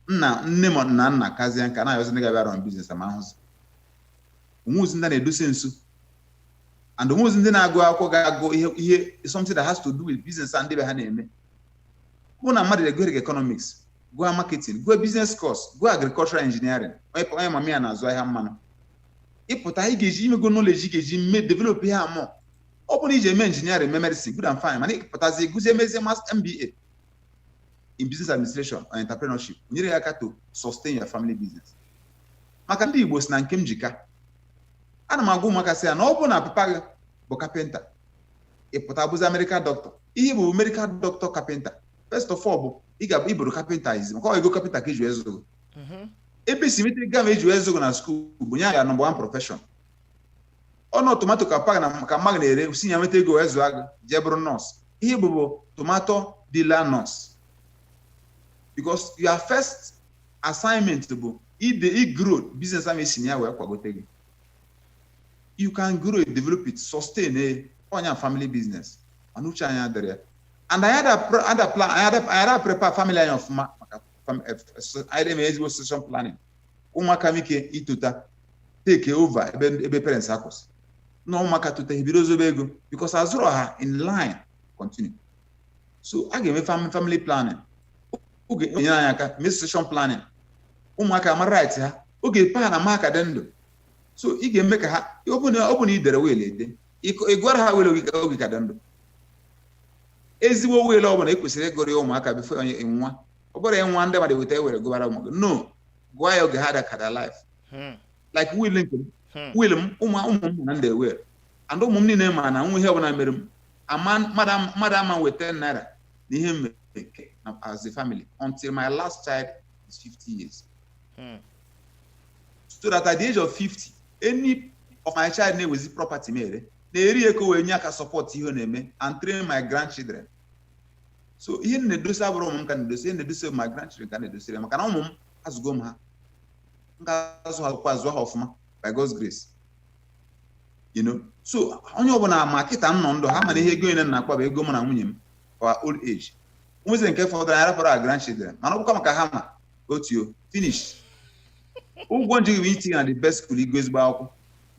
nna nne ma na nna kazie nka na-ayọzi ndị ga-abịa run business a ma ahụzi ụmụazị ndị na-edosi nso and ụmụazị ndị na-agụ akwụkwọ ga-agụ ihe ihe something that has to do with business a ndị be ha na-eme bụ na mmadụ ga-agụ economics gụọ marketing gụọ business course gụọ agricultural engineering onye pa- onye mama ya na-azụ ahịa mmanụ ị pụta ị ga-eji i nwego knowledge ị ga-eji mee develop ihe ahụ ọ bụrụ na i jee mee engineering mee medicine good and fine mana ị pụtazi gụzie mezie mas- MBA in business administration or entrepreneurship o nyere ya aka to sustain your family business maka ndị Igbo si na nke m ji ka ana m agwa ụmụaka sị ya na ọ bụrụ na papa gị bụ kapịnta ị pụta bụzi medical doctor ihe ị bụ bụ medical doctor kapịnta first of all bụ ị ga ị bụrụ kapịnta izi maka ọ ego kapịnta ka e ji zụọ gị Mhm. ebe e si nweta ego ahụ e ji wee zụọ gị na school bụ your number one profession ọ bụrụ tomato ka papa gị na- ka mama gị na-ere si ya nweta ego wee zụọ gị i jee bụrụ nọọsụ ihe ị bụ bụ tomato dealer nọọsụ because your first assignment bụ ị grow business ahụ e si na ya wee kwagote gị you can grow it develop it sustain ya eh, onye family business mana uche anyị adịrọ ya and anyị ada plan anyị ada prepare family anyị ọfụma maka eh, anyị na-eme ezigbo succession planning ụmụaka nwee ike itota take over ebe ebe parents ha kwụsị na ụmụaka tota ebido zobe ego because azụrọ ha in line continue so a ga-eme family planning ọ ga-enyere anyị aka mee succession planning ụmụaka mara right ha oge papa ha na mama ka dị ndụ so ị ga-eme ka ha ọ bụ na ọ bụ na i dere will ede ịkọ- ị gụọrọ ha will oge ka- oge ị ka dị ndụ ezigbo will ọ bụla e kwesịrị ịgụrụ ya ụmụaka before onye anwụọ ọ bụrọ ị nwụọ ndị mmadụ eweta will gụbara ụmụ gị no gụọ ya oge ị ka dị alive Hmm. like will nke m Hmm. will m ụmụ ụmụ m na ndị will and ụmụ m niile ma na o nwee ihe ọbụla mere m ama mmadụ ama- mmadụ ama ewe 10 naira na ihe m nwere ke- na- as a family until my last child is 50 years Hmm. so that at the age of 50 any of my child na-ewezi property m ere na-eri ya ka o wee nye aka support ihe ọ na-eme and train my grandchildren so ihe m na-edosi abụrọ ụmụ m ka m na-edosi ihe m na-edosi my grandchildren ka m na-edosiri ya maka na ụmụ m azụgo m ha m ga-azụ ha kwa azụ ha ọfụma by God's grace you know so onye ọbụla ma kịta m nọ ndụ ha ma na ihe ego niile m na-akpa bụ ego mụ na nwunye m for old age e nwezie nke fọdụrụ anyị rapụrụ our grandchildren mana ọ bụkwa maka ha ma otio finish ụgwọ m ji gị bụ itinye na the best school ị gụọ ezigbo akwụkwọ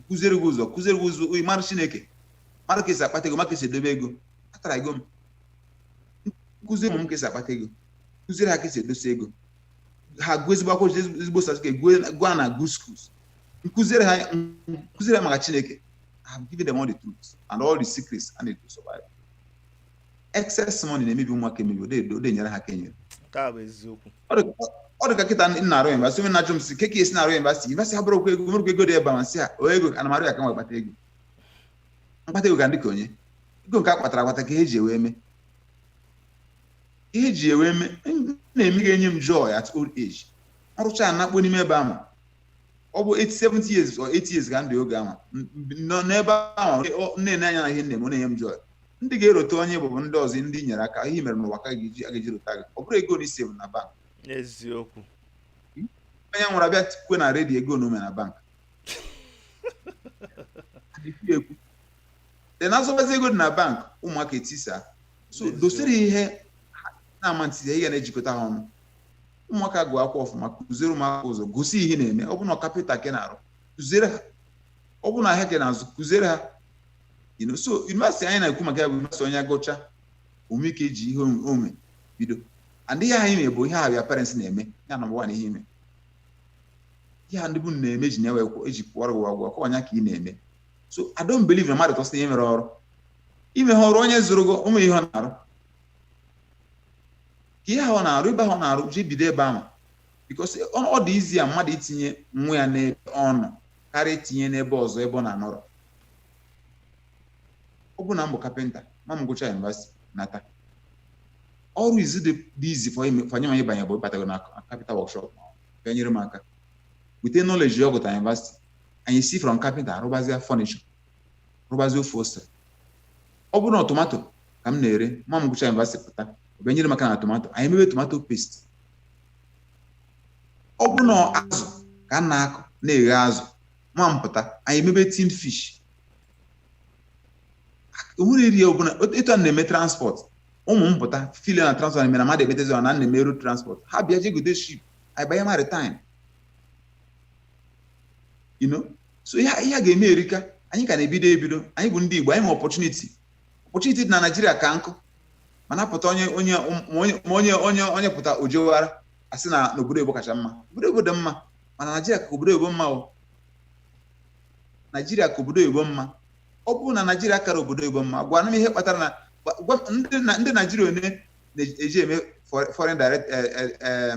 kụziere gị ụzọ kụziere gị ụzọ ị mara Chineke mara ka esi akpata ego mara ka esi edobe ego atara ego m m kụziere ụmụ m ka esi akpata ego kụziere ha ka esi edosi ego ha gụọ ezigbo akwụkwọ ezigbo certificate gụọ gụọ ha na good schools m kụziere ha m kụziere ha maka chineke I have given them all the truth and all the secrets and it will survive excess money na-emebi ụmụaka emebi o de- o de enyere ha aka enyere nke a bụ eziokwu ọ dị- ọ dị ka kịta m na-arụ yunivasịtị onye na-ajụ m sị kee ka esi na-arụ yunivasịtị yunivasịtị abụrọ okwu ego onwerọkwa ego dị ebe a m sị ya ọ ego ana m arụ ya ka m wee kpata ego m kpata ego ka m dị ka onye ego nke a kpatara akpata ka e ji wee mee ihe ji ewe eme m na-eme ga-enye m joy at old age m rụcha nakpo n'ime ebe ahụ ọ bụ 70 years or 80 years ka m dị oge ahụ M- m- nọ n'ebe ahụ ọ- na-ene anya na ihe m na-eme ọ na-enye m joy ndị ga-erota onye ị bụ bụ ndị ọzọ ndị i nyere aka ihe i mere n'ụwa ka a ga-eji a ga-eji rota gị ọ bụrọ ego na isi na bank eziokwu onye nwụrụ abịa kwue na redio ego one o nwe na bank Adịghị ekwu. then azọbazi ego dị na bank ụmụaka etisa so N'eziokwu. dosiri ihe ha na-ama ntị ihe na-ejikọta ha ọnụ ụmụaka gụọ akwụkwọ ọfụma kụziere ụmụaka ụzọ gosi ihe ị na-eme ọ bụ na kapịnta ka ị na-arụ kụziere ha ọ bụ na ahịa ka ị na-azụ kụziere ha You know, so yunivasịtị anyị na-ekwu maka ya bụ yunivasịtị onye gụcha o nwee ike iji ihe o nwe- o nwe bido and ihe anyị na-ebu ihe ahụ your parents na-eme ya number one ihe ị ma ihe a ndị be unu na-eme ji na-ewe kwụ- eji kwụọrọ gị ụgwọ akwụkwọ ọ ya ka ị na-eme so I don't believe na mmadụ tosiri ihe mere ọrụ ime ha ọrụ onye zụrụ gị o nwe ihe ọ na-arụ ka ihe ahụ ọ na-arụ ebe ahụ ọ na-arụ je bido ebe ahụ because ọ dị easier mmadụ itinye nwa ya n'ebe ọ nọ karịa itinye n'ebe ọzọ ebe ọ na-anọrọ ọ bụ na m bụ kapịnta nwa m gụcha yunivasiti nata ọrụ easy dị easy for nwa m ịbanye bụ ịbatago na kapịnta workshop bịa nyere m aka with the knowledge ọ gụta yunivasiti anyị si from kapịnta rụbazia furniture rụbazie ofe ose ọ bụrụ na tomato ka m na-ere nwa m gụcha yunivasịtị pụta ọ bịa nyere m aka na tomato anyị emebe tomato paste ọ bụrụ na azụ ka m na-akụ na-eghe azụ nwa m pụta anyị emebe tin fish onwere eri ọbụla etu a na-eme transport ụmụ m pụta file na transport na-eme na mmadụ emetezi ọ na na-eme road transport ha bịa je gote ship anyị banye maritime you know so ihe a ga-eme erika anyị ka na-ebido ebido anyị bụ ndị Igbo anyị ma opportunity opportunity dị na Naịjirịa ka nkụ mana pụta onye onye ma onye onye onye pụta ojewara asị na obodo oyibo kacha mma obodo oyibo dị mma mana Naịjirịa ka obodo oyibo mma o Naịjirịa ka obodo oyibo mma ọ bụrụ na Naịjirịa akarọ obodo oyibo mma gwanụ m ihe kpatara na ndị Naịjirịa one na-eje eme foreign direct eh, eh, eh,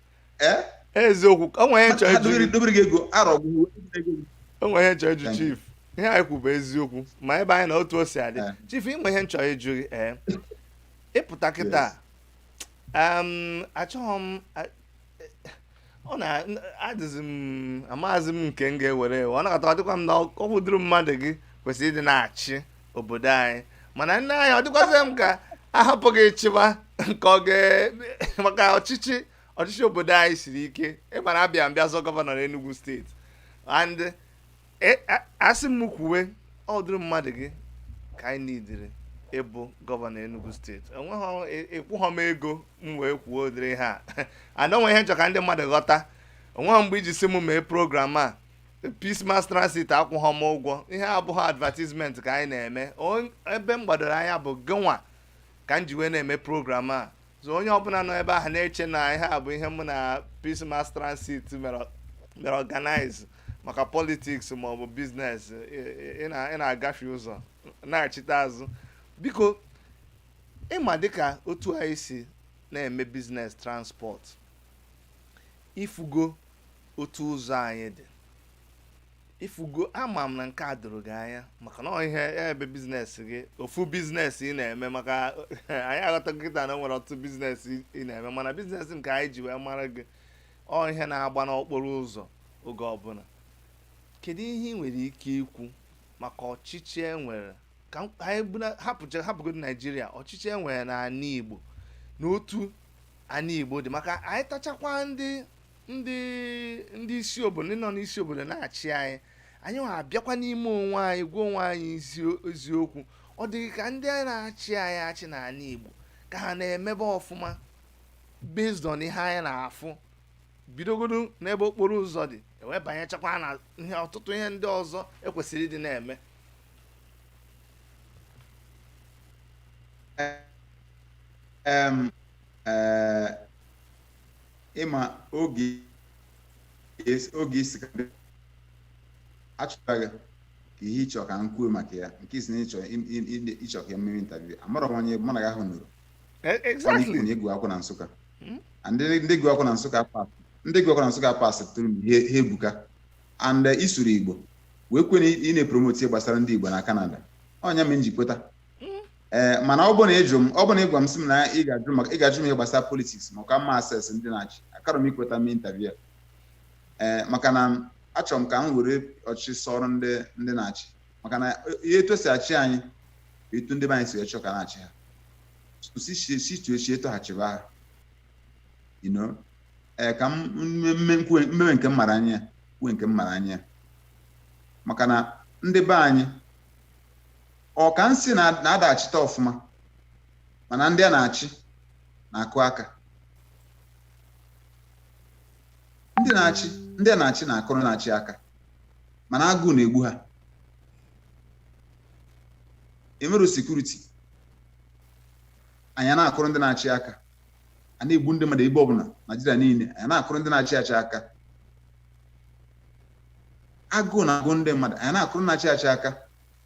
Eh? eziokwu o nwere ihe m chọrọ ịjụ dobere gị ego arọ gwụ o nwere ihe m chọrọ ịjụ chief ihe anyị kwu bụ eziokwu ma ebe anyị na otu o si adị eh. chief o nwe ihe m chọrọ ịjụ gị ee eh. ị pụta kịta achọghị m ọ na-adịzi m amaghịzi m nke m ga-ewere ị na-aghọta ọ dịkwa m na ọkwa ụdịrị mmadụ gị kwesịrị ịdị na-achị obodo anyị mana nna anyị ọ dịkwazị m ka a hapụ gị ị chịwa nke ọ ga maka ọchịchị ọchịchị obodo anyị siri ike ị mara bịa bịa zọọ gọvanọ n'Enugu steeti and e, a sị m kwuwe ọ ụdịrị mmadụ gị ka anyị nidiri ịbụ gọvanọ Enugu steeti enweghị ị kwụghọ e, m ego m wee kwuo ụdịrị ihe a and o nwe ihe m chọ ka ndị mmadụ ghọta o nweghị mgbe i ji sị m mee program a Peace Mass Transit akwụghọ m ụgwọ ihe a abụghị advertisement ka anyị na-eme On- ebe m gbadoro anya bụ gịnwa ka m ji wee na-eme program a so onye ọbụla nọ ebe ahụ na-eche na ihe a bụ ihe mụ na Peace Mass Transit mere mere organize maka politics ma ọ bụ biznes ị- ị- ị na- ị na-agafe ụzọ naghachite azụ biko ị ma dịka otu anyị si na-eme biznes transport i fugo otu ụzọ anyị dị i fugo ama m na nke a doro gị anya maka na ọ ihe ebe biznes gị ofu biznes ị na-eme maka anyị aghọta kịta na o nwere ọtụtụ biznes ị na-eme mana biznes nke anyị ji wee mara gị ọ ihe na-agba n'okporo ụzọ oge ọbụla kedu ihe ị nwere ike ikwu maka ọchịchị e nwere ka m- anyị buna- hapụcha hapụgodo Naịjirịa ọchịchị e nwere na ana Igbo na otu ana Igbo dị maka anyị tachakwa ndị ndị ndị isi obodo ndị nọ n'isi obodo na-achị anyị anyị nwa abịakwa n'ime onwe anyị gwa onwe anyị ezi- eziokwu ọ dị gị ka ndị na-achị anyị achị na ana Igbo ka ha na-emebe ọfụma based on ihe anyị na-afụ bidogodo n'ebe okporo ụzọ dị e wee banyechakwa na ihe ọtụtụ ihe ndị ọzọ e kwesịrị ịdị na-eme Em, eh, ị ma oge es- oge ị sị ka bịa. aghọtaghị ka ihe ị chọ ka m kwuo maka ya nke ị sị na ị chọ im- im- im- ị chọ ka m mee interview amarọ m onye ị bụ mana oge ahụ nụrụ E- Ọ na-ekwu exactly na ị gụ akwụkwọ na Nsụka Hmm? and ndị ndị gụ akwụkwọ na Nsụka pas ndị gụ akwụkwọ na Nsụka pas tụrụ m ihe ha ebuka and eh, ị sụrụ Igbo wee kwuo na ị na-epromoti ihe gbasara ndị Igbo na Kanada ọ nya me m ji kweta ee mana ọ bụ na ịjụ m ọ bụ na ịgwa m sị m na ị ga-ajụ maka ị ga-ajụ m ihe gbasara politiks ma ka m assess ndị na-achị akarọ m ikweta m intaviu a ee maka na achọrọ m ka m were ọchịchị sọrọ ndị ndị na-achị maka na ihe etu esi achị anyị bụ etu ndị be anyị si wee chọọ ka a na-achị ha situechi etu ha chịba ha you know ee ka m mewe nke m mara anya kwue nke m mara anya maka na ndị be anyị ọ ka m sị na- na ada achịta ọfụma mana ndị a na-achị na-akụ aka ndị na-achị ndị a na-achị na-akụrụ na-achị aka mana agụụ na-egbu ha enwero sekuriti anyị na-akụrụ ndị na-achị aka a na-egbu ndị mmadụ ebe ọbụla naijiria niile anyị na-akụrụ ndị na-achị achị aka agụụ na-agụ ndị mmadụ anyị na-akụrụ na-achị achị aka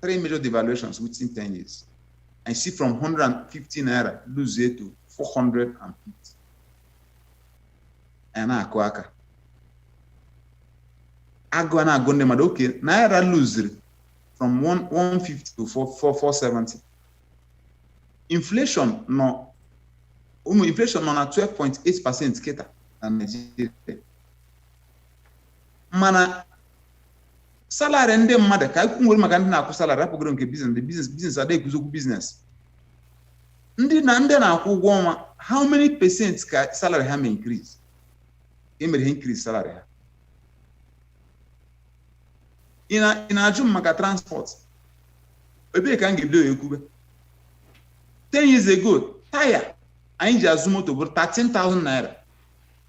three major devaluations within 10 years. I see from 150 naira lose it to 450. And I go aka. I go and I go mmadụ okay naira lose from 150 to 470. Inflation no inflation nọ na 12.8 percent kịta na Nigeria. mana salari ndị mmadụ ka ekwu nwere maka ndị na-akwụ salari hapụgodu nke biznes ndị biznes biznes ada ekwuzi okwu biznes ndị na ndị a na-akwụ ụgwọ ọnwa how many percent ka salari ha mee increase ka e mere increase salari ha ị na- ị na-ajụ m maka transport ebee ka m ga-ebido ya ekwube 10 years ago taya anyị ji azụ moto bụrụ 13,000 naira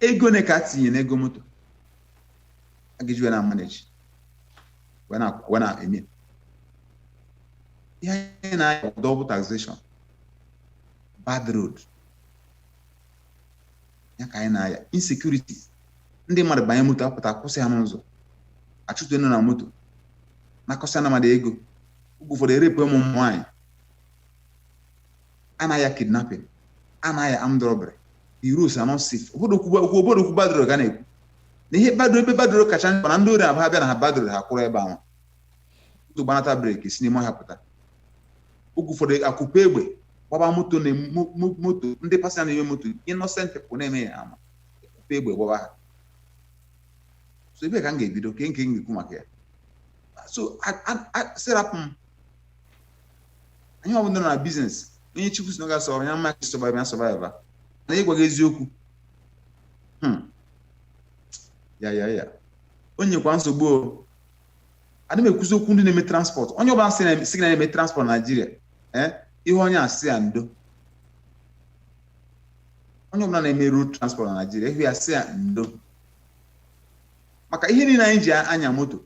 ego one ka a tinye n'ego moto a ga-eji wee na-amaneji wee na- wee na-eme ihe anyị na-aya bụ double taxation bad road ya ka anyị na-aya insecurity ndị mmadụ banye moto a pụta kwụsị ha n'ụzọ a chụtuo unu na moto nakọsịa ndị mmadụ ego oge ụfọdụ e rape ụmụ nwaanyị a na-aya kidnapping a na-aya armed robbery the roads are not safe obodo kwuba okwu obodo okwu bad road ga na-ekwu na ihe bad road ebe bad road kacha mkpa na ndị ori abụ ha bịa na ha bad road ha kwụrụ ebe ahụ moto gbanata breki si n'ime ọhịa pụta oge ụfọdụ akụpe egbe gbaba moto na mo- mo- moto ndị pasịnja nọ n'ime moto innocent people na-eme ya ama akụpe egbe gbaba ha so ebe ka m ga-ebido kee nke m ga-ekwu maka ya so sir rapụ m anyị bụ ndị nọ na biznes onye chukwu sị na ọ ga-asọ ya mma ka sọvaiva ya sọvaiva na m gwa gị eziokwu hmm. ya ya ya o nyekwa nsogbu o adị m ekwuzi okwu ndị na-eme transpọt onye ọbụla sị gị na ọ na-eme transpọt naijiria ee eh, ị hụ onye ahụ sị ya ndo onye ọbụla na-eme road transport na Naịjirịa ị hụ ya sị ya ndo maka ihe niile anyị ji anya moto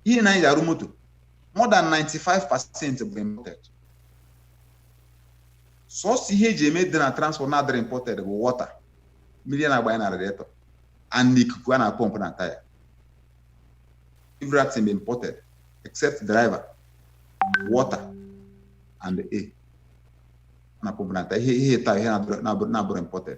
ihe niile anyị ji arụ moto more than 95 percent bụ imported sọsọ ihe eji eme dị na transport na-adịrọ imported bụ water mmiri a na-agbanye na radiator and ikuku a na-apọmpụ na taya everything bụ imported except driver water and air a na-apọmpụ na taya ihe ihe atọ a ihe na-abụrọ imported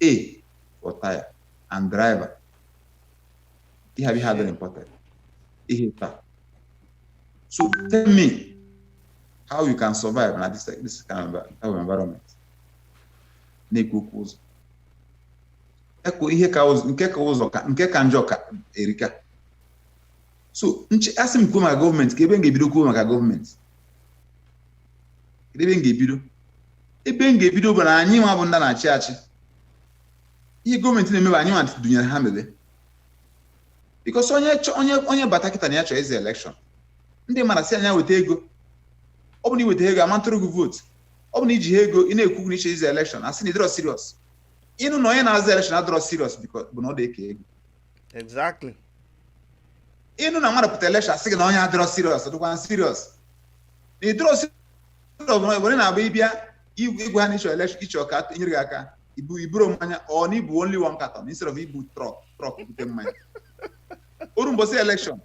Air for tire and driver. Ihe abịa ha very important. Ihe atọ. So tell me how you can survive na this, this kind of environment. Na-ekwu okwu ụzọ. E kwuo ihe ka ụzọ nke ka ụzọ ka nke ka njọ ka erika. So a sị m kwuo maka gọọmenti kee ebe m ga-ebido kwuo maka gọọmenti. Kedụ ebe m ga-ebido? ebe m ga-ebido bụ na anyị nwa bụ ndị na-achị achị ihe gọọmenti na-emebe anyị nwa dunyere ha mebe because onye onye onye bata kịta na ya chọọ ịzọ election ndị mmadụ asị nya weta ego ọ bụrụ na i weta ego ama m atụrụ gị vote ọ bụrụ na i jihọ ego ị na-ekwu na ị chọ ịzọ election a sị na ị dịrọ serious ị nụ na onye na-azọ election adịrọ serious bụ na ọ dị eke ego exactly ị nụ na mmadụ pụta election a sị gị na onye adịrọ serious dịkwa serious na ị dịrọ were na-abụ ị bịa ịgwa ha na ị chọ election ị chọ ka e nyere gị aka i bu i buru mmanya ọ na i bu only one carton instead of ibu truck truck bute mmanya o ruo mbọsị election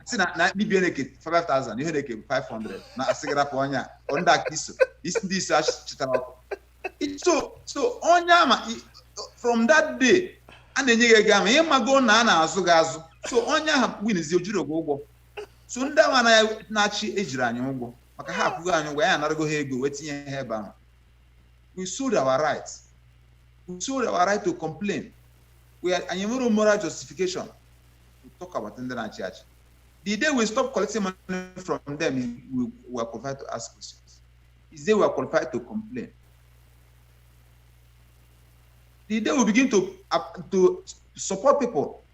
si na na bibie na-eke 5000 ị na-eke 500 na a sị gị rapụ onye a ọ ndị aka iso isi ndị iso achịtara ọkụ so so onye ama i- from that day a na-enye gị ego ama ị mago na a na-azụ gị azụ so onye ahụ winizie o jirọ gị ụgwọ so ndị ama na-achị ejirọ anyị ụgwọ maka ha akwụgo anyị ụgwọ ya a narago ha ego wee tinye ha ebe ahụ we sold our right we sold our right to complain we are anyị enwerọ moral justification to talk about ndị na-achị achị the day we stop collecting money from them we are qualified to ask questions is the day we are qualified to complain the day we begin to uh, to support people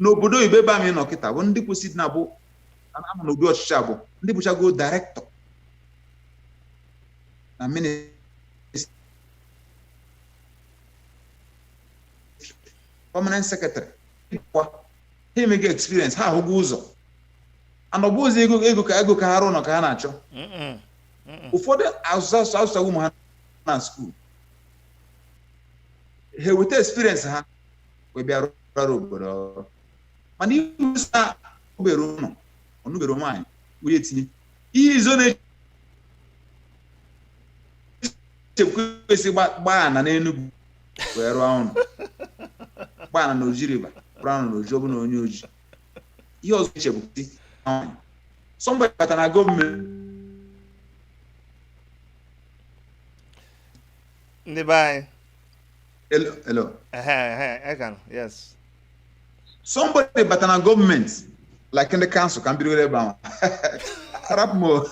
n'obodo oyibo ebe anyị nọ kịta bụ ndị kwesịrị na bụ ama na ụdị ọchịchị a bụ ndị bụchago director na ministry permanent secretary kwa ha enwego experience ha ahụgo ụzọ na ọ bụzị ego ego ka ego ka ha rụọ nọ ka ha na-achọ Mm-mm. Mm-mm. ụfọdụ azụsịa ụmụ ha na school ha enweta experience ha wee bịa rụrụ obodo ọrụ mana iwusa obere ụlọ ọ nụ obere nwaanyị wee tinye ihe izo na-eche bụ esi gbaa ana n'Enugu wee rụọ ụlọ gbaa ana n'Oji River rụọ ụlọ n'Oji ọ bụ na onye Oji ihe ọzọ eche bụ si nwaanyị somebody bata na gọọmenti ndị be anyị Hello, hello. Ehe, ehe, ị ka nọ, yes. Somebody bata na gọọmenti like ndị kansụl ka m bidoro ebe ahụ. Arapụ m o.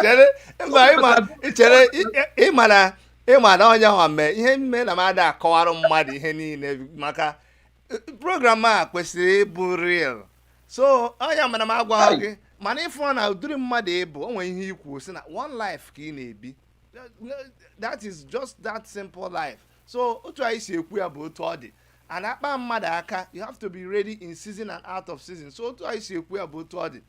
Chere, mba, ị ma- ị chere, ị- ị ma na- ị ma na onye ahụ mee ihe mere na m ada akọwara mmadụ ihe niile maka program a kwesịrị ịbụ real so onye mana m agwaghị gị mana ị fụ na ụdịrị mmadụ ị bụ o nwere ihe i kwu sị na one life ka ị na-ebi that is just that simple life so otu anyị si ekwu ya bụ otu ọ dị ada akpa mmadụ aka you have to be ready in season and out of season so otu anyị si ekwu ya bụ otu ọ dị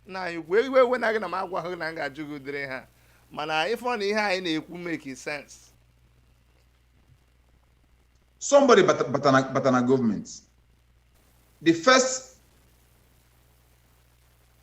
na iwe ewena gị na m agwaghị na m ga-ajụ gị ụdịrị ihe a mana ị fụ na ihe anyị na-ekwu make sense somebody bata bata na bata na gọọmenti the first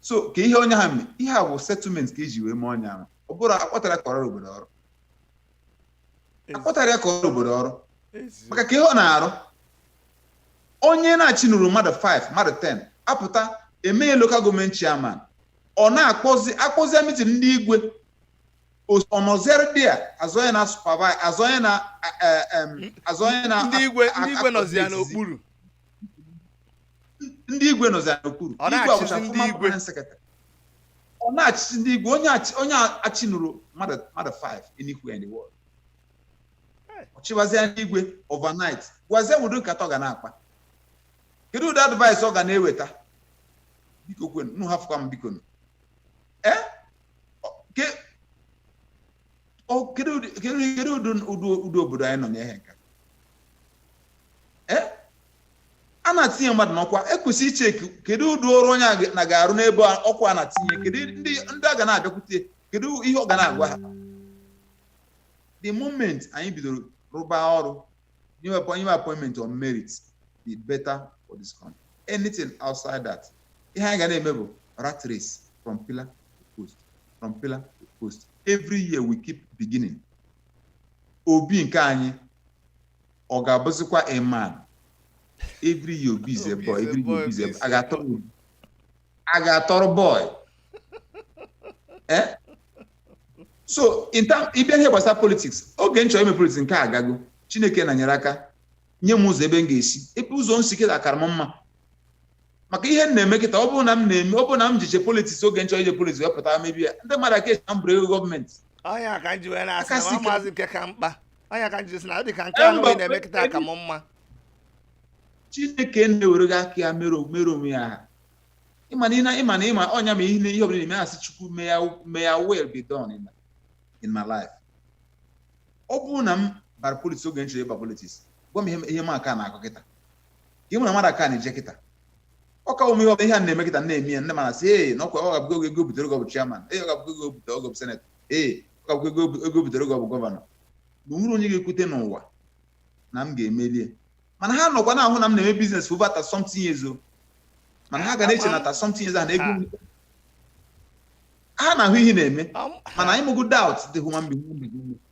so ka ihe onye ha mee ihe a bụ settlement ka e ji wee mee onye ahụ ọ bụrọ akpọtara ka ọ rụọ obodo ọrụ akpọtara ya ka ọ rụọ obodo ọrụ Ezi- maka kee ihe ọ na-arụ onye na-achịnụrọ mmadụ 5 mmadụ 10 apụta e mee ya lokal gọọmenti chairman ọ na-akpọzi akpọzi mitin ndị igwe Os- ọnọziere dị a azọ ya na supervise azọ ya na eh, eh, em, azọ ya na ndị igwe ndị igwe nọzi ya akpọzi n'okpuru ndị igwe nọzi ya n'okpuru Ọ igwe na-achịzi ọ bụcha ndị former igwe. permanent secretary. ọ na-achịzi ndị igwe onye achị- onye achịnụrọ mmadụ mmadụ 5 anywhere in the world Hey. ọ chịwazie ndị igwe overnight gwazie ụdị nkata ọ ga na-akpa kedu ụdị advice ọ ga na-eweta biko kwenu nụ hafụkwa m biko nụ ee Ọ- ke- ọ- kedu ụdị kedu ụdị ụdị ụdị obodo anyị nọ n'ihe nke a? ee a na-atinye mmadụ n'ọkwa ekwesịrị iche kedu ụdị ọrụ onye a ga- na ga-arụ n'ebe a- ọkwa a na-atinye kedu ndị ndị a ga na-abịakwute kedu ihe ọ ga na-agwa ha the moment anyị bidoro rụba ọrụ nyewe apọ- nyewe appointment on merit the better for this country anything outside that ihe anyị ga na-eme bụ rat race from pillar to post from pillar to post every year we keep beginning obi nke anyị ọ ga-abụzikwa a man every year obi is a boy Obi is a boy, every year obi is a obi is a a ga-atọrọ obi a ga-atọrọ boy Eh? so in term ịbịa ihe gbasara politics oge m chọrọ ime politics nke a agago chineke na-enyere aka nye m ụzọ ebe m ga-esi ebe ụzọ m si kịta akara m mma maka ihe m na-eme kịta ọ bụrụ na m na-eme ọ bụrụ na m jecha politiks oge m chọ ije politiks wee pụta mebe ya ndị mmadụ aka eche na m buuru ego gọọmenti ọ nya ka m ji wee na-asị Aka na si ọ ka- maazị nke ka mkpa ọ nya ka m ji sị na ọ dị ka nke Eh, ahụ mba, ị na-eme kịta ka m mma chineke na-ewere gị aka ya mere o- mere onwe ya aha ịma na ịna- ịma na ịma ọ nya ma ihe na- ihe ọbụla na-eme asị chukwu may your may your will be done in, in my life ọ bụrụ na m bara politiks oge m chọ ịba politiks gwa m ihe m- ihe m aka na-akọ kịta ihe mụ na mmadụ aka na-eje kịta ọ ka ụmụ ihe ọbụla ihe a na-eme kịta na-eme ya ndị mmadụ asị ee na ọkwa ọ ga-abụgo oge ego o butere oge ọ bụ chairman ee ọ ga-abụgo ego o butere oge ọ bụ senetọ ee ọ ga-abụgo ego ego o butere oge ọ bụ gọvanọ na o nwere onye ga-ekwete n'ụwa na m ga-emelie mana ha nọkwa na-ahụ na m na-eme biznes over thirty something years o mana ha ga na-eche na thirty something years ahụ na ego m- ha na-ahụ ihe na-eme Am- mana anyị mụgo doubt the human being human being.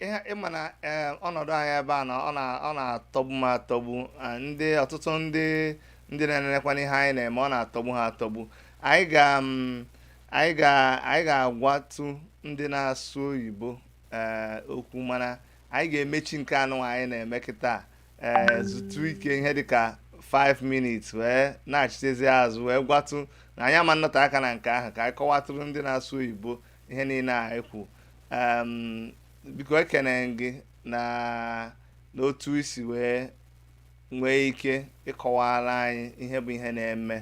ihe ị ma na eh, ọnọdụ anyị ebe a na ọ na- ọ na-atọgbu m atọgbu ah, ndị ọtụtụ ndị ndị na-enenekwanụ ihe anyị na-eme ọ na-atọgbu ha atọgbu anyị ga mm, anyị ga anyị ga-agwatụ ndị na-asụ oyibo eh, okwu mana anyị ga-emechi nke anụwa anyị na-eme kịta eh, zutu ike ihe dịka 5 minutes wee nachitezi azụ wee gwatụ na anyị ama anọte aka na nke ahụ ka anyị kọwatụrụ ndị na-asụ oyibo ihe niile a i kwu biko ekene m gị na n'otu i si wee nwee ike ịkọwara anyị ihe bụ ihe na-eme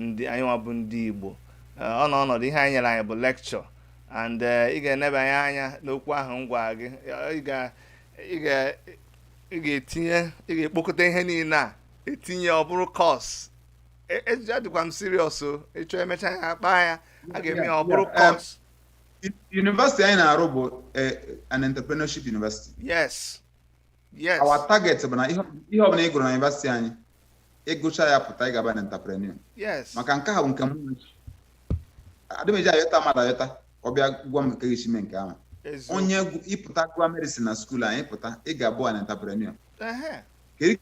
ndị anyị nwa bụ ndị Igbo ọ nọ ọnọdụ ihe a i nyere anyị bụ lekchọ and eh, ị ga-enebanye anya n'okwu ahụ m gwara gị ị ga-etinye ị ga-ekpokọta ihe niile a etinye ọ bụrụ kọs E- ejije adịkwa m serious o ịchọ emecha ya kpaa ya a ga-eme ya ọ bụrụ Yeah, yeah, course University anyị na-arụ bụ eh, an entrepreneurship university. yes yes Our target bụ na ihe ihe ọbụla ị gụrụ na university anyị, ịgụcha ya pụta ị ga-abụ an entrepreneur. yes Maka nke ahụ nke m adị m eje ayọta mmadụ ayọta ka ọ bịa gwa m nke ga-esi mee nke ahụ. eziokwu. Onye gụ- ịpụta gụọ medicine na skuul anyị pụta, ị ga-abụ an entrepreneur. Ehe. Kedu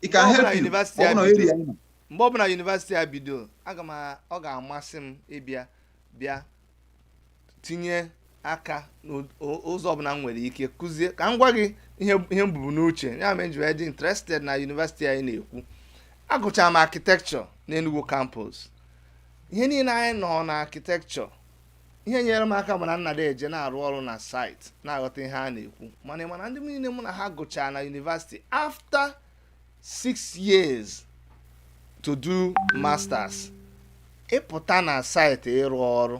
It can Ọ bụrụ na help you. university Ọ bụrụ na anyị area ị nọ. mgbe ọbụla yunivasiti a bido aga m a- ọ ga-amasị m ịbịa bịa tinye aka n'ụzọ ọbụla m nwere ike kuzie ka m gwa gị ihe ihe m bubu n'uche ya mere m ji wee dị interested na yunivasiti anyị na-ekwu agụchara m architecture n'Enugu campus ihe niile anyị nọ na architecture ihe nyere m aka bụ na m na-adị eje na-arụ ọrụ na site na-aghọta ihe a na-ekwu mana mana ndị niile mụ na ha gụchaa na yunivasiti after six years to do masters ị pụta na site ịrụ ọrụ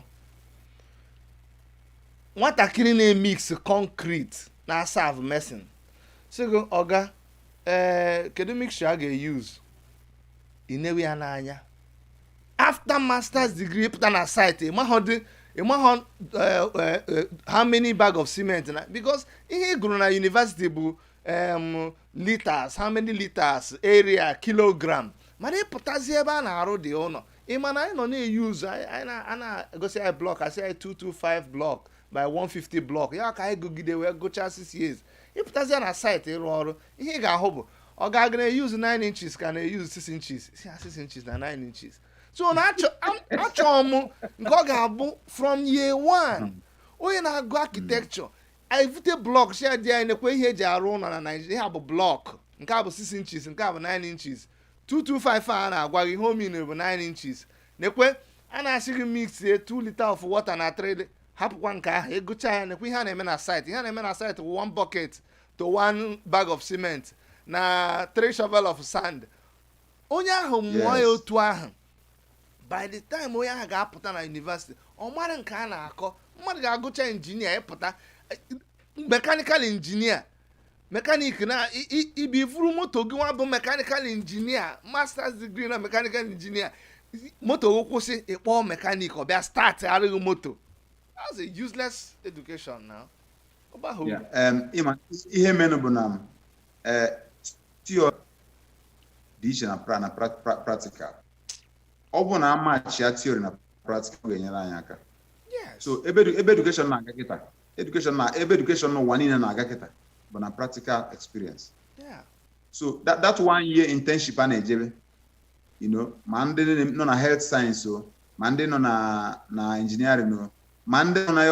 nwatakịrị na-emix concrete na-asav mason sị gị ọga ee eh, kedu mixture a ga-eyuz i newe ya n'anya after masters degree ị pụta na site ị maghọdị ị maghọ eh, eh, eh, how many bag of cement na because ihe ị gụrụ na university bụ um, liters how many liters area kilogram mana ị pụtazie ebe a na-arụdị ụlọ ị ma na anyị nọ na-eyuz a na-egosi anyị blọk a sị anyị 225 blọk by 150 blọk ya ka anyị gụgide wee gụchaa 6 years ị pụtazịa na site ịrụ ọrụ ihe ị ga-ahụ bụ ọga a ga na-eyuz 9 inches ka a na-eyuz 6 inches sị ha 6 inches na 9 inches so na achọ am- achọọ m nke ọ ga-abụ from year one onye na-agụ architecture anyị vute blọk sị ya dị anyị nekwe ihe e ji arụ ụlọ na naijiria ihe a bụ blọk nke a bụ 6 inches nke a bụ 9 inches 225 a na-agwa gị ihe ọ mean bụ 9 inches nekwe a na-asị gị mixie 2 liter of water na 3 li- hapụkwa nke ahụ ị gụchaa ya nekwe ihe a na-eme na site ihe a na-eme na site wụ 1 bucket to one bag of cement na three shovel of sand onye ahụ mụọ ya otu ahụ by the time onye ahụ ga-apụta na yunivesiti ọ mara nke a na-akọ mmadụ ga-agụcha injinia pụta mekanikal injinia mekanik na ibi i vuru moto gị nwa bụ mekanikal injinia masters degree na mekanikal injinia moto gị kwụsị ị kpọọ mekanik ọ bịa startara gị moto that's a useless education now. ihe menụ bụ na eh, theory dị iche na pra na practical ọ bụrụ na a matchia theory na practical ọ ga-enyere anyị aka so ebe education na-aga kịta education na ebe education n'ụwa niile na-aga kịta bụ na practical experience so that, that one year internship a na-ejebe you know ma ndị nọ na health science o ma ndị nọ na na engineering o ma ndị nọ na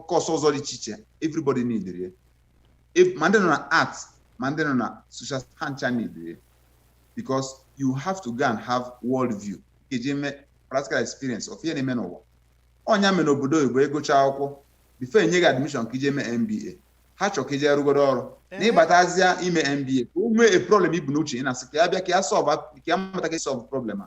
kọọsụ ọzọ dị iche iche everybody needed ya ma ndị nọ na art ma ndị nọ na social ha ncha needed ya because you have to go and have world view ga-eji eme practical experience of ihe na-eme n'ụwa ọ ya mere n'obodo oyibo ị gụchaa akwụkwọ bifọ e nye gị admishọn ka i je mee MBA ha chọrọ ka i je rụgodo ọrụ na ị batazịa ime MBA ka o nwee problem i bu n'uche ị na-asị ka ya bịa ka ya sọlva ka ya mata ka sọlv problem a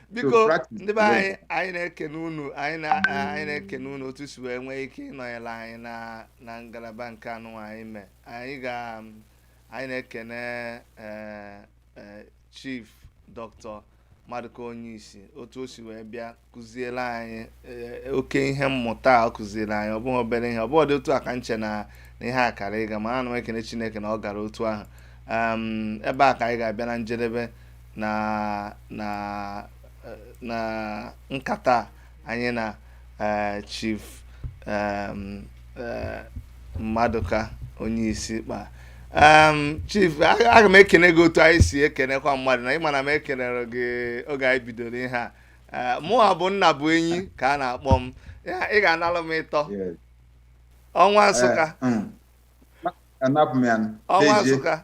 biko ndị be anyị anyị na-ekene unu anyị na-ekene unu otu si wee nwee ike ịnọnyere anyị na ngalaba nke anụwa anyị mee anyị ga anyị na-ekene eh, eh, chief dr madụka onyishi otu o si wee bịa kụziere anyị eh, oke ihe mmụta ọ kụziere anyị ọ bụghị obere ihe ọ bụghịdị otu a ka m chee na ihe a kara ịga ma ana m ekene chineke na ọ gara otu ahụ ebe a ka anyị ga-abịa na njedebe na na eh, na nkata anyị na eh, chief em, eh, madụka onyishi kpa Em, chief a- aga m ekene gị otu anyị si ekenekwa mmadụ na ị ma na m ekenerọ gị oge anyị bidoro ihe a Eh, mụwa bụ nnabụenyi ka a na-akpọ m Ya, ị ga-analụ m ịtọ Yes. ọnwa nsụka Eh, mm. anapụ m ya nụ. ọnwa Dezie. nsụka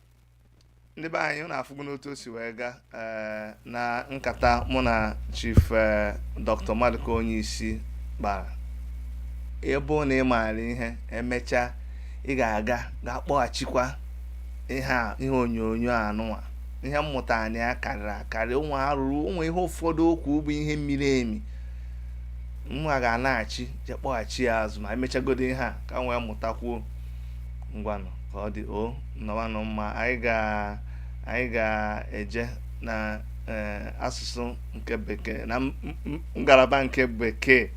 ndị be anyị unu afụgonụ otu o si wee gaa eh, na nkata mụ na chief eh, dr maduka onyishi kpara ebe na ị maara ihe emechaa ị ga-aga gaa kpọghachikwa ihe a ihe onyonyo anụwa ihe mmụta anụwa karịrị akarị ụmụ arụrụ ụmụ ihe ụfọdụ o kwuru bụ ihe miri emi mụwa ga-anaghachi je kpọghachi ya azụ ma emechagodo ihe a ka m wee mụtakwuo ngwanụ ka ọ dị o nọwanụ mma anyị ga anyị ga-eje na eh, asụsụ nke bekee na m- m- ngalaba nke bekee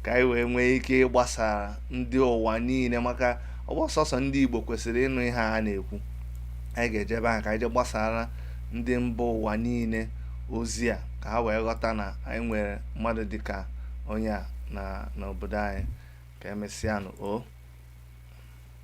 ka anyị wee nwee ike ịgbasara ndị ụwa niile maka ọ bụrọ sọsọ ndị igbo kwesịrị ịnụ ihe a na-ekwu anyị ga-eje ebe ahụ ka anyị je gbasara ndị mba ụwa niile ozi a ka ha wee ghọta na anyị nwere mmadụ dịka onye a na n'obodo anyị ka emesịanụ o